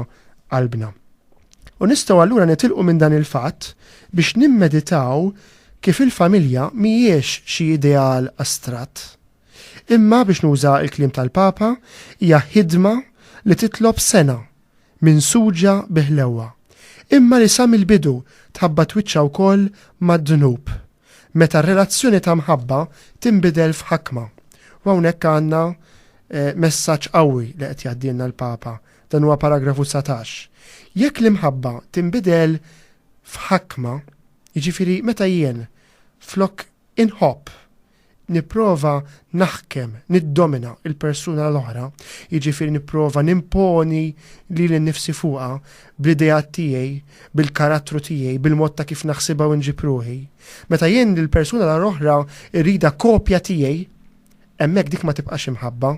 qalbna. U nistgħu allura nitilqu minn dan il-fatt biex nimmeditaw kif il-familja mhijiex xi ideal astratt, imma biex nuża l-kliem tal-Papa, hija ħidma li titlob sengħa minsuġa bi ħlewwa, imma li sa mill-bidu tħabbat wiċċha wkoll mad-dnub. Meta r-relazzjoni ta' mħabba tinbidel f'ħakma. U hawnhekk għandna messaġġ qawwi li qed jgħaddielna l-Papa. Dan huwa paragrafu dsatax. Jekk l-imħabba tinbidel f'ħakma, jiġifieri meta jien flok inħobb, nipprova naħkem, niddomina, il-persuna l-oħra, jiġifieri nipprova nimponi lili nnifsi fuqha bl-ideat tiegħi, bil-karattru tiegħi, bil-mod ta' kif naħsibha u nġib ruħi. Meta jien lill-persuna l-oħra rridha kopja tiegħi, hemmhekk dik ma tibqax imħabba,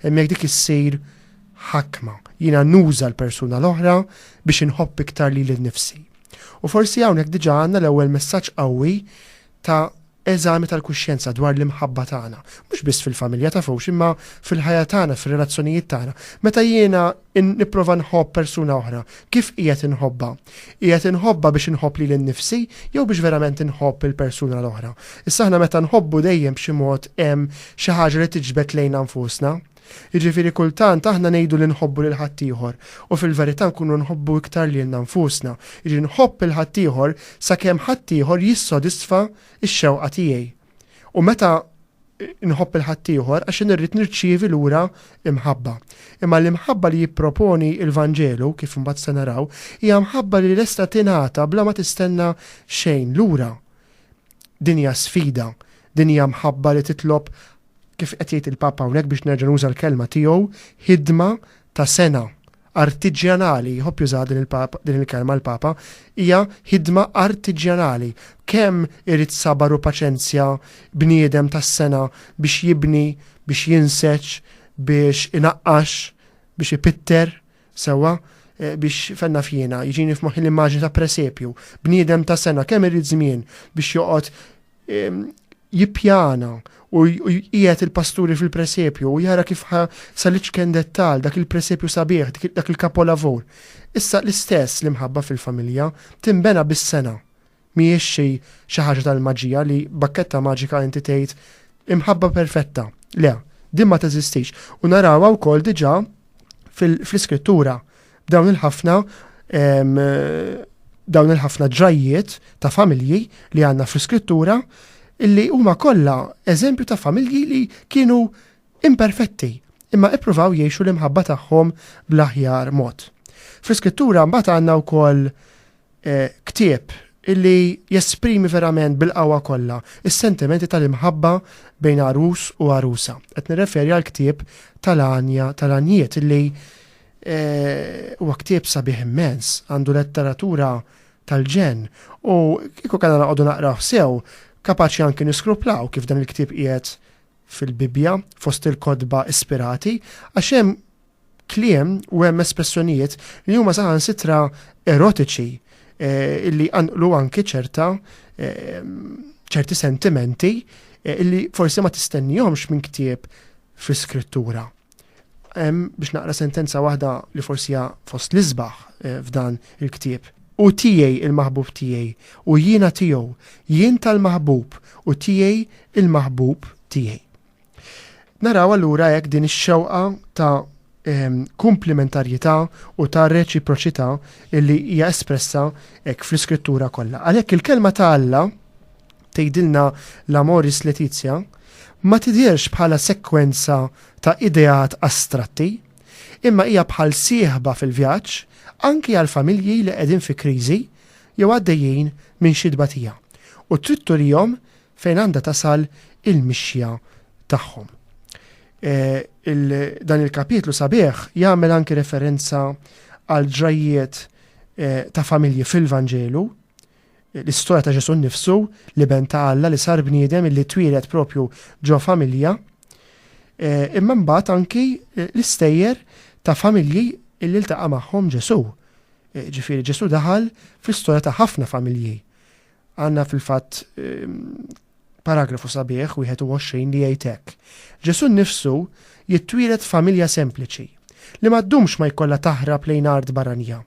hemmhekk dik issir ħakma. Jiena nuża l-persuna l-oħra biex inħobb iktar lili nnifsi. U forsi hawnhekk diġà għandna l-ewwel messaġġ qawwi ta' Eżami tal-kuxjenza dwar l-imħabba tagħna, mhux biss fil-familja, tafux, imma fil-ħajja tagħna, fir-relazzjonijiet tagħna. Meta jiena nipprova nħobb persuna oħra, kif qiegħed inħobbha? Qiegħed inħobbha biex inħobb lili nnifsi jew biex verament inħobb il-persuna l-oħra? Issa aħna meta nħobbu dejjem b'xi mod hemm xi ħaġa li tiġbed lejna nfusna. Jiġifieri kultant aħna ngħidu li nħobbu lil ħaddieħor u fil-verità nkunu nħobbu iktar lilna nfusna, jiġri nħobb lil ħaddieħor sakemm ħaddieħor jissodisfa x-xewqa tiegħi. U meta nħobb lil ħaddieħor għax jien irrid nirċievi lura l-imħabba. Imma l-imħabba li jipproponi l-Vanġelu, kif imbagħad se naraw, hija mħabba li lesta tingħata bla ma tistenna xejn lura. Din hija sfida. Din hija mħabba li titlob, kif qed jgħid il-Papa hawnhekk biex nerġa' nuża l-kelma tiegħu, ħidma ta' sengħa, artiġjanali, jħobb jużaha din il-kelma l-Papa, hija ħidma artiġjanali. Kemm irid sabar u paċenzja bniedem tas-sengħa biex jibni, biex jinseġ, biex inaqqax, biex ipitter, Sewwa, eh, biex fenna fjena, jiġini f'moħħi l-immaġni ta' presepju, bniedem ta' sena kemm irid żmien biex joqgħod ehm, jippjana u jqiegħed il-pasturi fil-presepju u jara kif sa l-iċken dettal dak il-presepju sabiħ, dak il-kapolavur. Issa l-istess l-imħabba fil-familja timbena bis-sena Mhijiex xi xi ħaġa tal-maġija li b'bakketta maġika inti tgħid imħabba perfetta. Le, din ma teżistix. U narawha wkoll diġà fl-Iskrittura b'dawn il-ħafna dawn il-ħafna ġrajjiet ta' familji li għandna fl-Iskrittura illi huma kollha eżempju ta' familji li kienu imperfetti imma ippruvaw jgħixu l-imħabba tagħhom bl-aħjar mod. Fl-Iskrittura mbagħad għandna wkoll Ktieb li jesprimi verament bil-qawwa kollha s-sentimenti tal-imħabba bejn għarus u għarusa. Qed nirreferi għall-ktieb tal-Għanja tal-Għanjiet li huwa ktieb sabiħ immens, għandu letteratura tal-ġenn u kieku kellna noqogħdu naqrawh sew, kapaċi anki niskruplaw kif dan il-ktieb qiegħed fil-Bibbja fost il-kotba ispirati għax hemm kliem u hemm espressjonijiet li huma saħansitra erotiċi eh, illi għanqlu anki ċerta eh, ċerti sentimenti eh, illi forsi ma tistennihomx minn ktieb fi skrittura. Hemm biex naqra sentenza waħda li forsi hija fost l-isbaħ f'dan il-ktieb. U tiegħi il-maħbub tiegħi u jiena tiegħu, jien tal-maħbub u tiegħi il-maħbub tiegħi. Naraw allura hekk din ix-xewqa ta' ehm, komplementarjetà u ta' reċiproċità illi hija espressa hekk fl-iskrittura kollha. Għalhekk il-kelma ta' Alla tgħidilna l-Amoris Letizia ma tidhirx bħala sekwenza ta' ideat astratti, imma hija bħal sieħba fil-vjaġġ anki għal familji li qegħdin fi kriżi jew għaddejjin minn xi tbatija. U trid turihom fejn għandha tasal il-mixja tagħhom. Dan il-kapitlu sabiħ jagħmel anki referenza għal ġrajjiet ta' familji fil-Vanġelu, l-istorja ta' Ġesu nnifsu, li ben ta' Alla li sar bniedem li twieled propju ġo familja, imma mbagħad anki l-istejjer ta' familji illi ltaqa' magħhom Ġesu. Ġifieri Ġesu daħal fl-istorja ta' ħafna familji. Għandna fil-fatt paragrafu sabiħ 21 li jgħid hekk. Ġesù nnifsu jittwieled f'familja sempliċi, li ma ddumx ma jkollha taħrab lejn art barranija.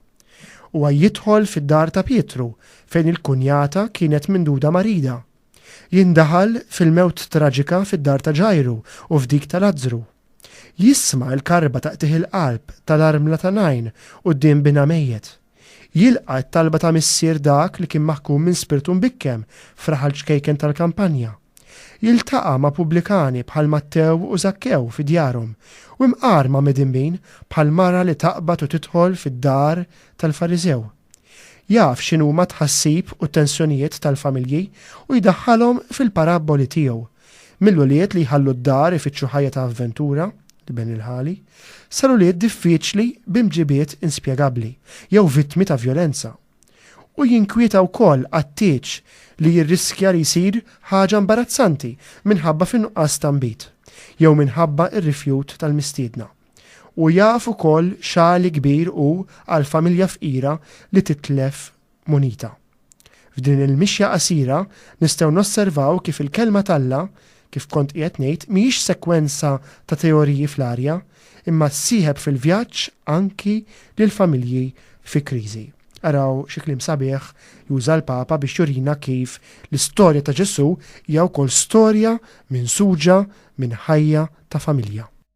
Huwa jidħol fid-dar ta' Pietru fejn il-kunjata kienet minduda marida. Jindaħal fil-mewt traġika fid-dar ta' Ġajru u f'dik ta' Lazzru. Jisma' l-karba ta' qtigħ il-qalb tal-armla ta' Najn quddiem binha mejjet. Jilqa' t-talba ta' missier dak li kien maħkum minn spirtu mbikkem f'raħal ċkejken tal-kampanja. Jiltaqa' ma' pubblikani bħal Mattew u Żakkew fi djarhom, u imqar ma' midinbin bħal mara li taqbad u tidħol fid-dar tal-Fariżew. Jaf x'inhuma t-tħassib u t-tensjonijiet tal-familji u jdaħħalhom fil-parabboli tiegħu. Mill-ulied li jħallu d-dar ifittxu ħajja ta' avventura, Ben il-Ħali, sal-ulied diffiċli b'imġibiet inspjegabbli jew vittmi ta' vjolenza. U jinkwieta wkoll għat-tieġ li jirriskja li jsir ħaġa imbarazzanti minħabba fin-nuqqas ta' nbid, jew minħabba r-rifjut tal-mistiedna. U jaf ukoll xagħli kbir hu għal familja fqira li titlef munita. F'din il-mixja qasira nistgħu nosservaw kif il-Kelma t'Alla, kif kont qiegħed ngħid, mhijiex sekwenza ta' teoriji fl-arja, imma ssieħeb fil-vjaġġ anki lill-familji fi kriżi. Araw xi kliem sabiħ juża l-Papa biex jurina kif l-istorja ta' Ġesù hija wkoll storja minsuġa minn ħajja ta' familja.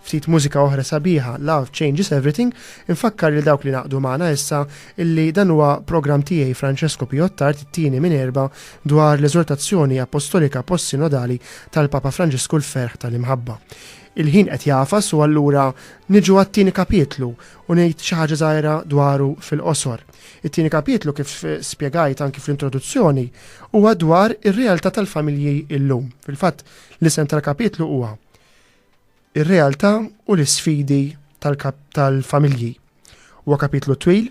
Ftit mużika oħra sabiħa, Love Changes Everything, infakkar lil dawk li ngħaqdu magħna issa illi dan huwa programm tiegħi Francesco Pio Attard it-tieni minn erbgħa dwar l-Eżortazzjoni Appostolika Post-Sinodali tal-Papa Franġisku L-Ferħ tal-Imħabba. Il-ħin qed jagħfas u allura niġu għat-tieni kapitlu u ngħid xi ħaġa żgħira dwaru fil-qosor. It-tieni kapitlu kif spjegajt anki fl-introduzzjoni huwa dwar ir-realtà tal-familji illum. Fil-fatt, l-isem tal-kapitlu huwa ir-realtà u l-isfidi tal-familji. Huwa kapitlu twil,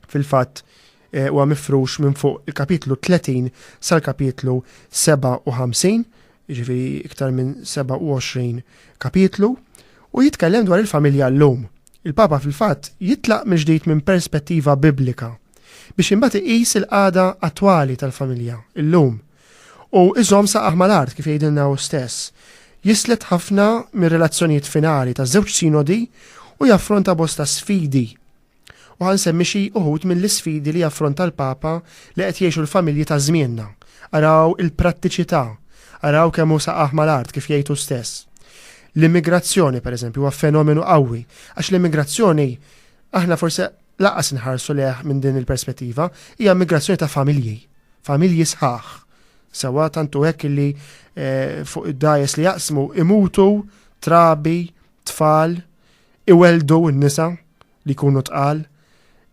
fil-fatt eh, huwa mifrux minn fuq il-kapitlu 30 sal-kapitlu 57, ġifi iktar minn 27 kapitlu, u jitkellem dwar il-familja l-lum. Il-Papa fil-fatt jitlaq mill-ġdid minn perspettiva biblika biex imbagħad iqis il-qagħda attwali tal-familja l-lum. U iżomm saqajh mal-art, kif jgħidilna hu stess. Jislet ħafna mir-relazzjonijiet finali taż-żewġ sinodi u jaffronta bosta sfidi. U ħa nsemmi xi uħud mill-isfidi li jaffronta l-Papa li qed jgħixu l-familji ta' żmienna. Araw il-prattiċità, araw kemm hu saqajh mal-art, kif jgħid hu stess. L-immigrazzjoni, pereżempju, huwa fenomenu qawwi, għax l-immigrazzjoni aħna forsi lanqas inħarsu lejh minn din il-perspettiva, hija immigrazzjoni ta' familji. Familji sħaħ, sewwa tant hu hekk li fuq id-dgħajjes li jaqsmu imutu trabi, tfal, iweldu n-nisa li jkunu tqal.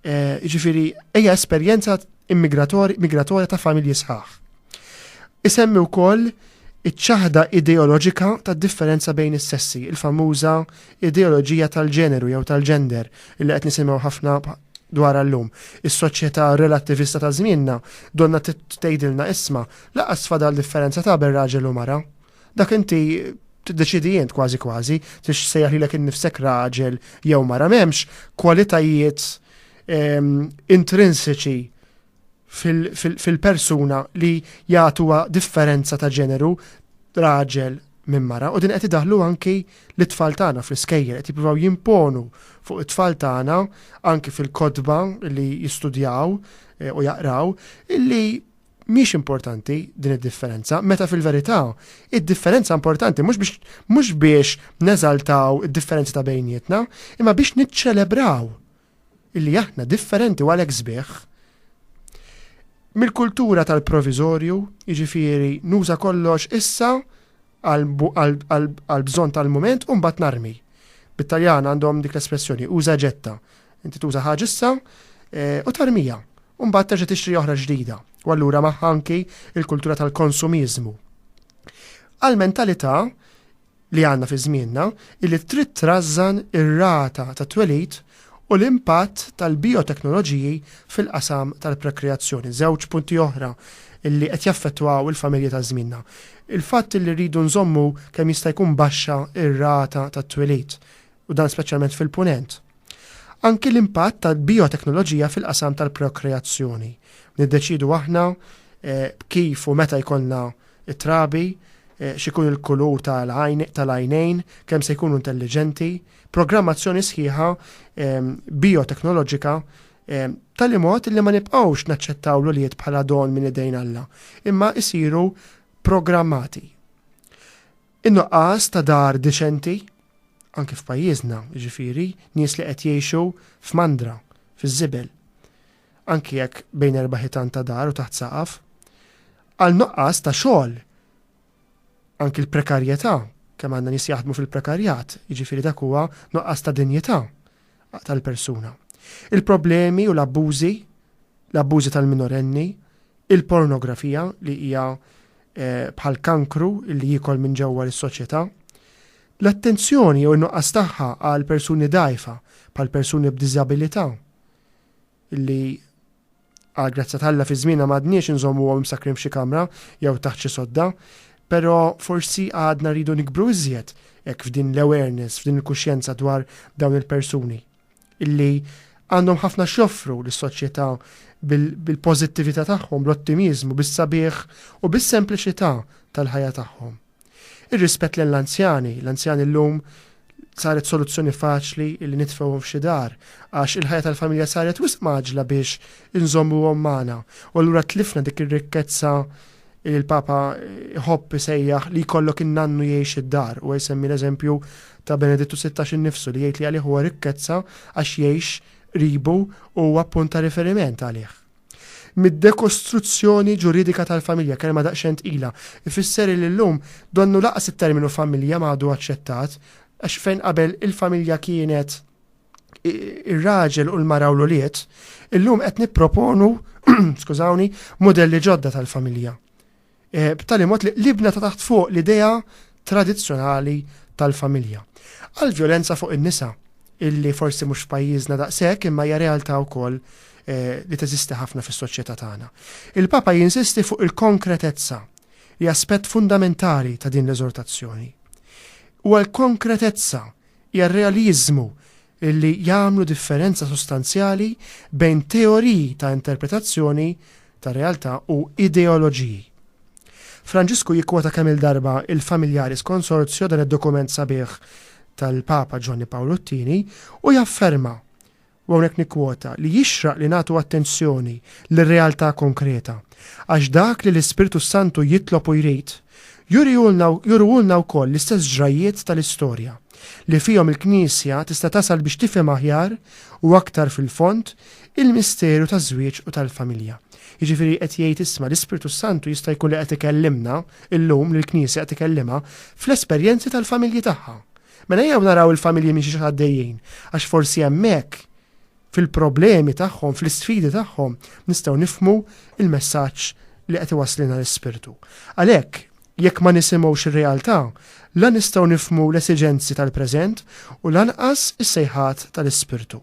Jiġifieri hija esperjenza migratorja ta' familji sħaħ. Isemmi wkoll iċ-ċaħda ideoloġika tad-differenza bejn is-sessi, il-famuża ideoloġija tal-ġeneru jew tal-gender li qed nisimgħu ħafna dwarha llum. Is-soċjetà relattivista ta' żmienna donnha tgħidilna isma' lanqas fadal differenza ta' ben raġel u mara. Dak inti tiddeċiedi int kważi kważi tix sejjaħ lilek innifsek raġel jew mara m'hemmx kwalitajiet ehm, intrinsiċi fil-persuna li jagħtuha differenza ta' ġeneru raġel minn mara u din qed idaħlu anki l-tfal tagħna fl-iskejjer qed jippruvaw jimponu fuq it-tfal tagħna anki fil-kodba li jistudjaw eh, u jaqraw illi mhix importanti din id-differenza, meta fil-verità id-differenza importanti mhux biex mhux biex neżaltaw id-differenza ta' bejnietna, imma biex niċċelebraw illi aħna differenti u għalhekk sbieħ, mill-kultura tal-proviżorju, jiġifieri nuża kollox issa għall-bżonn tal-mument u mbagħad narmi. Bit-Taljan għandhom dik l-espressjoni uża e ġetta. Inti tuża ħaġa issa eh, u tarmija. U mbagħad terġa' tixtri oħra ġdida. U allura magħha anki il-kultura tal-konsumiżmu. Għal-mentalità li għandna fi żmienna hi li trid trażżan ir-rata ta' twelid u l-impatt tal-bijoteknoloġiji fil-qasam tal-prokreazzjoni. Żewġ punti oħra li qed jaffettwaw il-familji ta' żmienna. Il-fatt li rridu nżommu kemm jista' jkun baxxa r-rata ta' twelid u dan speċjalment fil-Punent. Anki l-impatt tal-bijoteknoloġija fil-qasam tal-prokreazzjoni. Niddeċidu aħna eh, kif u meta jkollna trabi, eh, xikun il-kulur tal-għajnejn, kemm se jkunu intelligenti, programmazzjoni sħiħa eh, bioteknoloġika tal mod li ma nibqgħux naċċettaw l-uliet bħala don minn idejn Alla, imma isiru programmati In-nuqqas ta' dar deċenti, anki f'pajjiżna, jiġifieri, nies li qed jgħixu f'mandra, fiż-żibel, anki jekk bejn erba' ħitan ta' dar u taħt saqaf, għal nuqqas ta' xogħol, anki l-prekarjetà, kemm għandna nies jaħdmu fil-prekarjat, jiġifieri dak huwa nuqqas ta' dinjità, tal-persuna. Il-problemi u l-abbużi, l-abbużi tal-minorenni, il-pornografija li hija eh, bħal kankru li jikol minn ġewwa l-soċjetà, l-attenzjoni jew nuqqas tagħha għal persuni dajfa, bħal persuni b'diżabilità, li Għal grazzja t'Alla fi żmienna m'għadniex inżommuhom imsakkrin f'xi kamra jew taħt xi sodda. Però forsi għadna rridu nikbru iżjed hekk f'din l-awareness, f'din il-kuxjenza dwar dawn il-persuni. Illi għandhom ħafna x'joffru lis-soċjetà bil-pożittività tagħhom, bl-ottimiżmu, bis-sabiħ u bis-sempliċità tal-ħajja tagħhom. Ir-rispett lill-anzjani, l-anzjani llum saret soluzzjoni faċli li nitfgħuhom f'xi dar, għax il-ħajja tal-familja saret wisq mgħaġġla biex inżommuhom magħna, u allura tlifna dik ir-rikkezza li l-Papa jħobb isejjaħ li jkollok in-nannu jgħix id-dar. Huwa jsemmi l-eżempju ta' Benedittu Sittax innifsu li jgħid li għalih huwa rikkezza għax jgħix qribu u huwa punt ta' riferiment għalih. mid-dekostruzzjoni ġuridika tal-familja, kelma daqsxejn tqila, ifisser li llum donnu lanqas it-terminu familja ma għadu aċċettat, għax fejn qabel il-familja kienet ir-raġel u l-mara u l-ulied, illum qed nipproponu, skużawni, mudelli ġodda tal-familja. b'tali mod li libna ta' taħt fuq l-idea tradizzjonali tal-familja. Għall-vjolenza fuq in-nisa, illi forsi mhux f'pajjiżna daqshekk imma hija realtà wkoll li teżisti ħafna fis-soċjetà tagħna. Il-Papa jinsisti fuq il-konkretezza li aspett fundamentali ta' din l-eżortazzjoni. Huwa l-konkretezza, hija r-realiżmu illi jagħmlu differenza sostanzjali bejn teoriji ta' interpretazzjoni tar-realtà u ideoloġiji. Franġisku jikkwota kemm-il darba il-Familiaris Consortio, dan id-dokument sabiħ tal-Papa Ġwanni Pawlu t-Tieni, u jafferma, u hawnhekk nikkwota, li jixraq li nagħtu attenzjoni lir-realtà konkreta, għax dak li l-Ispirtu s-Santu jitlob u jrid, jurihulna, juruhulna wkoll l-istess ġrajjiet tal-istorja. li fihom il-Knisja tista' tasal biex tifhem aħjar u aktar fil-fond il-misteru taż-żwieġ u tal-familja. Jiġifieri qed jgħid isma' l-Ispirtu s-Santu jista' jkun li qed ikellimna llum, lill-Knisja qed ikellimha, fl-esperjenzi tal-familji tagħha. Mela ejjew naraw il-familji minn xiex għaddejjin, għax forsi hemmhekk, fil-problemi tagħhom, fl-isfidi tagħhom, nistgħu nifhmu l-messaġġ li qed iwasslilna l-Ispirtu. Għalhekk, Jekk ma nisimgħux ir-realtà, la nistgħu nifhmu l-esiġenzi tal-preżent u lanqas is-sejħat tal-Ispirtu.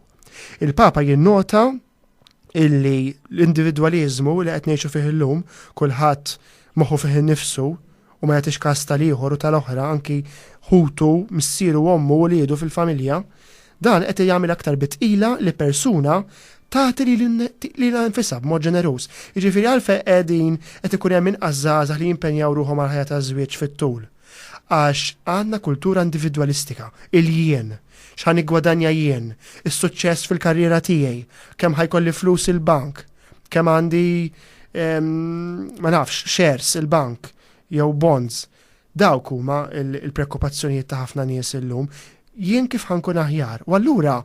Il-Papa jinnota illi l-individwaliżmu li qed ngħixu fih illum, kulħadd moħħu fih innifsu u ma jagħtix kas tal-ieħor u tal-oħra anki ħutu, missieru, ommu, uliedu fil-familja, Dan qed jagħmel aktar bi tqila li persuna tagħti lilha nfisha b'mod ġeneruż. Jiġifieri għalfejn qegħdin qed ikun hemm inqas żgħażagħ li jimpenjaw ruħhom għall-ħajja taż-żwieġ fit-tul? Għax għandna kultura individwalistika, il-jien, x'ħa niggwadanja jien, is-suċċess fil-karriera tiegħi, kemm ħa jkolli flus il-bank, kemm għandi ma nafx, shares il-bank jew bonds. Dawk huma l-preokkupazzjonijiet ta' ħafna nies illum. Jien kif ħa nkun aħjar? U allura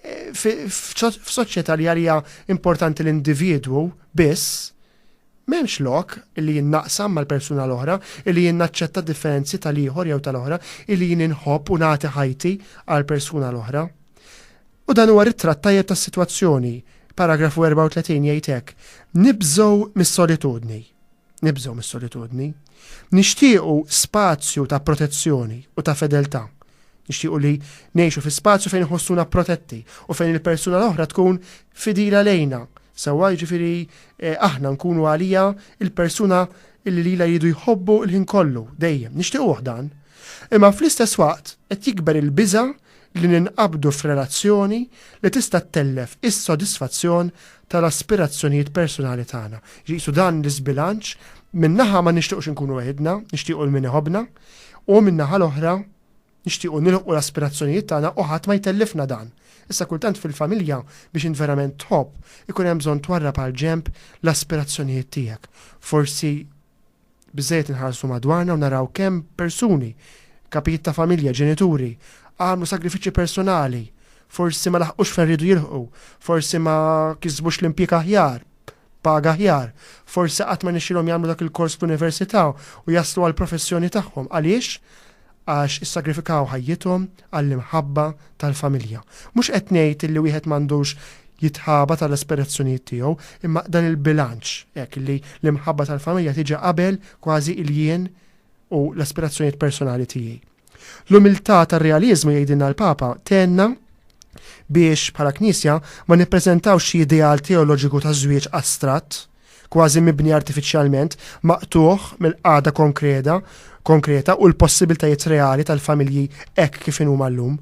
f'soċjetà li għaliha importanti l-individwu biss, m'hemmx lok illi jien naqsam mal-persuna l-oħra, illi jien naċċetta d-differenzi tal-ieħor jew tal-oħra, illi jien inħobb u nagħti ħajti għall-persuna l-oħra. U dan huwa ritratt tajjeb tas-sitwazzjoni. Paragrafu 34 jgħid hekk, Nibżgħu mis-solitudni. Nibżgħu mis-solitudni. Nixtiequ spazju ta' protezzjoni u ta' fedeltà. Nixtiequ li ngħixu fi spazju fejn iħossuna protetti u fejn il-persuna l-oħra tkun fidila lejna, sewwa jiġifieri eh, aħna nkunu għaliha il-persuna li lilha jridu jħobbu l-ħin kollu, dejjem. Nixtiequh dan. Imma fl-istess waqt qed jikber il-biża' li ninqabdu f'relazzjoni li tista' ttellef is-sodisfazzjon tal-aspirazzjonijiet persunali tagħna. Qisu dan l-iżbilanċ, minn naħa ma nixtiequx inkunu weħidna, nixtiequ 'l min iħobbna, u min-naħa l-oħra nixtiequ nilħqu l-aspirazzjonijiet tagħna u ħadd ma jtellifna dan. Issa kultant fil-familja biex int verament tħobb, ikun hemm bżonn twarrab għall-ġenb l-aspirazzjonijiet tiegħek. Forsi. Biżżejjed inħarsu madwarna u naraw kemm persuni, kapijiet ta' familja, ġenituri, għamlu sagrifiċċji personali, forsi ma laħqux fejn riedu jilħqu, forsi ma kisbux l-impjieg aħjar, paga aħjar, forsi qatt ma rnexxielhom jagħmlu dak il-kors fl-università u jaslu għall-professjoni tagħhom. Għaliex? għax issagrifikaw ħajjithom għall-imħabba tal-familja. Mhux qed ngħid li wieħed m'għandux jitħabat għall-aspirazzjonijiet tiegħu, imma dan il-bilanċ hekk li l-imħabba tal-familja tiġi qabel kważi il-jien u l-aspirazzjonijiet personali tiegħi. L-umiltà tar-realiżmu jgħidilna l-Papa tenna biex bħala Knisja ma nippreżentawx xi ideal teoloġiku ta' żwieġ astratt, kważi mibni artifiċjalment, maqtugħ mill-qagħda konkreda, konkreta u l-possibiltajiet reali tal-familji hekk kif inhuma llum.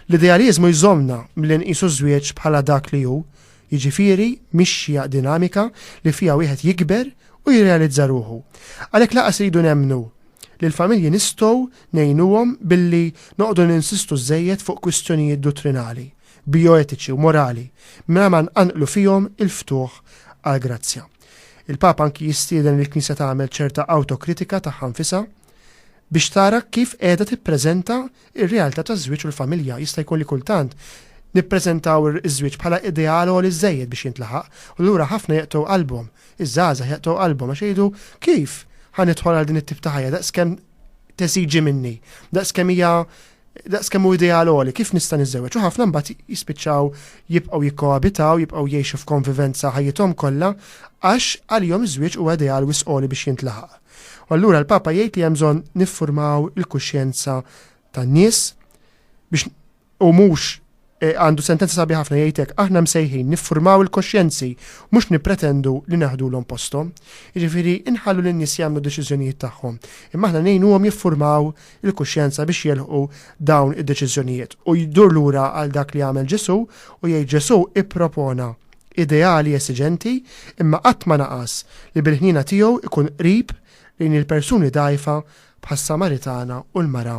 L-idealiżmu jżommna milli nqisu ż-żwieġ bħala dak li hu, jiġifieri mixja dinamika li fiha wieħed jikber u jirrealizza ruħu. Għalhekk lanqas iridu nemmnu li l-familji nistgħu ngħinuhom billi noqogħdu ninsistu żżejjed fuq kwistjonijiet duttrinali. bijoetiċi u morali mingħajr ma nqanqlu fihom il-ftuħ għall-grazzja. Il-Papa anki jistieden lill-Knisja tagħmel ċerta awtokritika tagħha nfisha biex tara kif qiegħda tippreżenta r-realtà taż-żwieġ u l-familja. Jista' jkun li kultant nippreżentaw iż-żwieġ bħala ideal għoli żżejjed biex jintlaħaq, u lura ħafna jeqtgħu qalbhom, iż-żgħażagħ jeqtgħu qalbhom għax jgħidu kif ħa nidħol għal din it-tip ta' ħajja daqskemm tesiġi minni, daqs kemm hija daqs kemm hu ideal għoli, kif nista' niżewweġ? U ħafna mbagħad jispiċċaw jibqgħu jikkoabitaw, jibqgħu jgħixu f'konvivenza ħajjithom kollha għax għalihom iż-żwieġ huwa ideal wis għoli biex jintlaħaq. U allura l-Papa jgħid li hemm bżonn niffurmaw il-kuxjenza tan-nies biex U mhux eh, għandu sentenza sabiħa ħafna jgħidlek aħna msejħin niffurmaw il-koxjenzi mhux nippretendu li naħdulhom posthom. Jiġifieri inħallu lin nies jagħmlu deċiżjonijiet tagħhom. Imma aħna ngħinuhom jiffurmaw il-kuxjenza biex jelħu dawn id-deċiżjonijiet. U jdur lura għal dak li għamel Ġesu u jgħid Ġesu ippropona ideali esiġenti imma qatt ma naqas li bil-ħnina tiegħu ikun qrib lejn il-persuni dajfa bħas-Samaritana u l-mara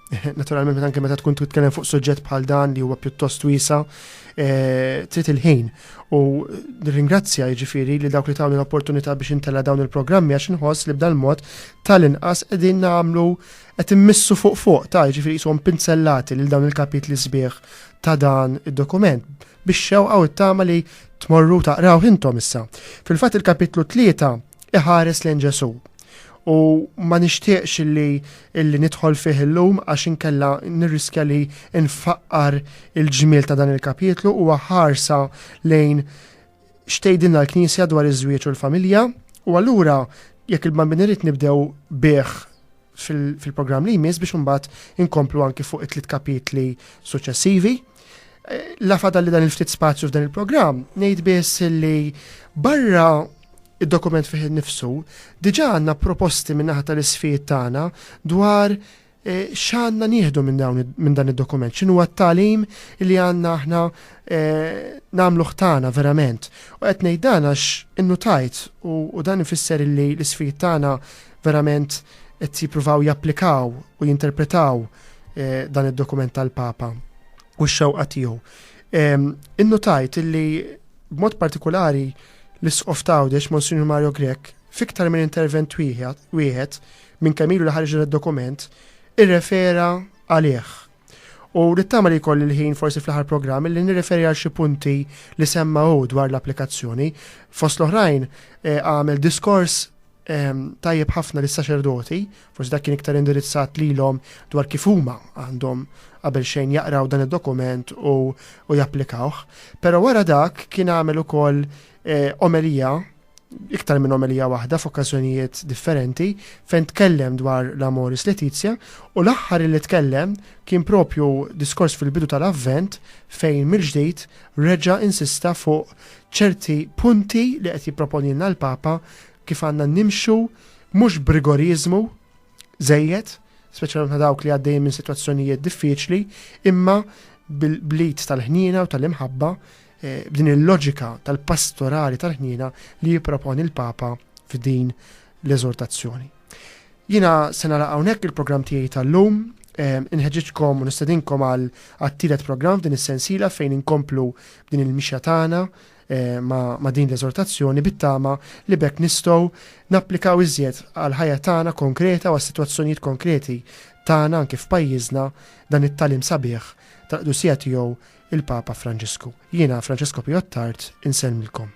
Naturalment meta anke meta tkun titkellem fuq suġġett bħal dan li huwa pjuttost wiesa, eh, trid il-ħin. U nirringrazzja jiġifieri li dawk li tawni l-opportunità biex intella dawn il-programmi għax inħoss li b'dan mod tal-inqas qegħdin nagħmlu qed immissu fuq fuq ta' jiġifieri jishom pinzellati lil dawn il-kapitli sbieħ ta' dan id-dokument biex xewqa u t-tama li tmorru taqraw intom issa. Fil-fatt il-kapitlu tlieta iħares lejn Ġesu. U ma nixtieqx li illi nidħol fih illum għax inkella nirriskja li nfaqqar il-ġmiel ta' dan il-kapitlu u ħarsa lejn xtejdinna l-Knisja dwar iż-żwieġ u l-familja u allura jekk il-bambin irid nibdew bih fil-programm li jmiss biex imbagħad inkomplu anki fuq it-tliet kapitli suċċessivi. Eh, la fadal li dan il-ftit spazju f'dan il-programm, ngħid biss li barra id-dokument fih nifsu, diġa għanna proposti minnaħa tal-isfijiet tagħna dwar eh, xanna nieħdu minn dan id-dokument, xinu għat-talim li għanna aħna eh, namlu ħtana verament. U qed ngħid dan għax innutajt u dan ifisser li l-isfijiet tagħna verament qed jippruvaw japplikaw u jinterpretaw eh, dan id-dokument tal-Papa u x-xewqa tiegħu. Ehm, innutajt illi b'mod partikolari l-isqof tawdex Monsignor Mario Grek fiktar minn intervent wieħed minn kemm ilu li ħarġ id-dokument irrefera għalih. U nittama li koll il-ħin forsi fl-ħar programm li nirreferi għal xi punti li semma dwar l-applikazzjoni. Fost l-oħrajn eh, għamel diskors ehm, tajjeb ħafna lis saċerdoti forsi dak kien iktar indirizzat lilhom dwar kif huma għandhom qabel xejn jaqraw dan id-dokument u, u japplikawh. Però wara dak kien għamel ukoll eh, omelija iktar minn omelija waħda f'okkażjonijiet differenti fejn tkellem dwar l-Amoris Letizia u l-aħħar li tkellem kien propju diskors fil-bidu tal-avvent fejn mill-ġdid reġa' insista fuq ċerti punti li qed jipproponilna l-Papa kif għandna nimxu mhux b'rigoriżmu żejjed, speċjalment ma' dawk li għaddejjin minn sitwazzjonijiet diffiċli, imma bl-id tal-ħniena u tal-imħabba eh, b'din il-loġika tal-pastorali tal-ħniena li jipproponi l-Papa f'din l-eżortazzjoni. Jina sena la hawnhekk il-programm tiegħi tal-lum, ehm, inħeġġitkom u nistedinkom għal għattilet programm f'din is-sensiela fejn inkomplu din il-mixja tagħna Eh, ma' din l-eżortazzjoni bit-tama li bekk nistgħu napplikaw iżjed għal ħajja tagħna konkreta u għas-sitwazzjonijiet konkreti tagħna anke f'pajjiżna dan it-talim sabiħ tal-qdusija tiegħu il-Papa Franġisku. Jiena Franġisku Pijottart insellmilkom.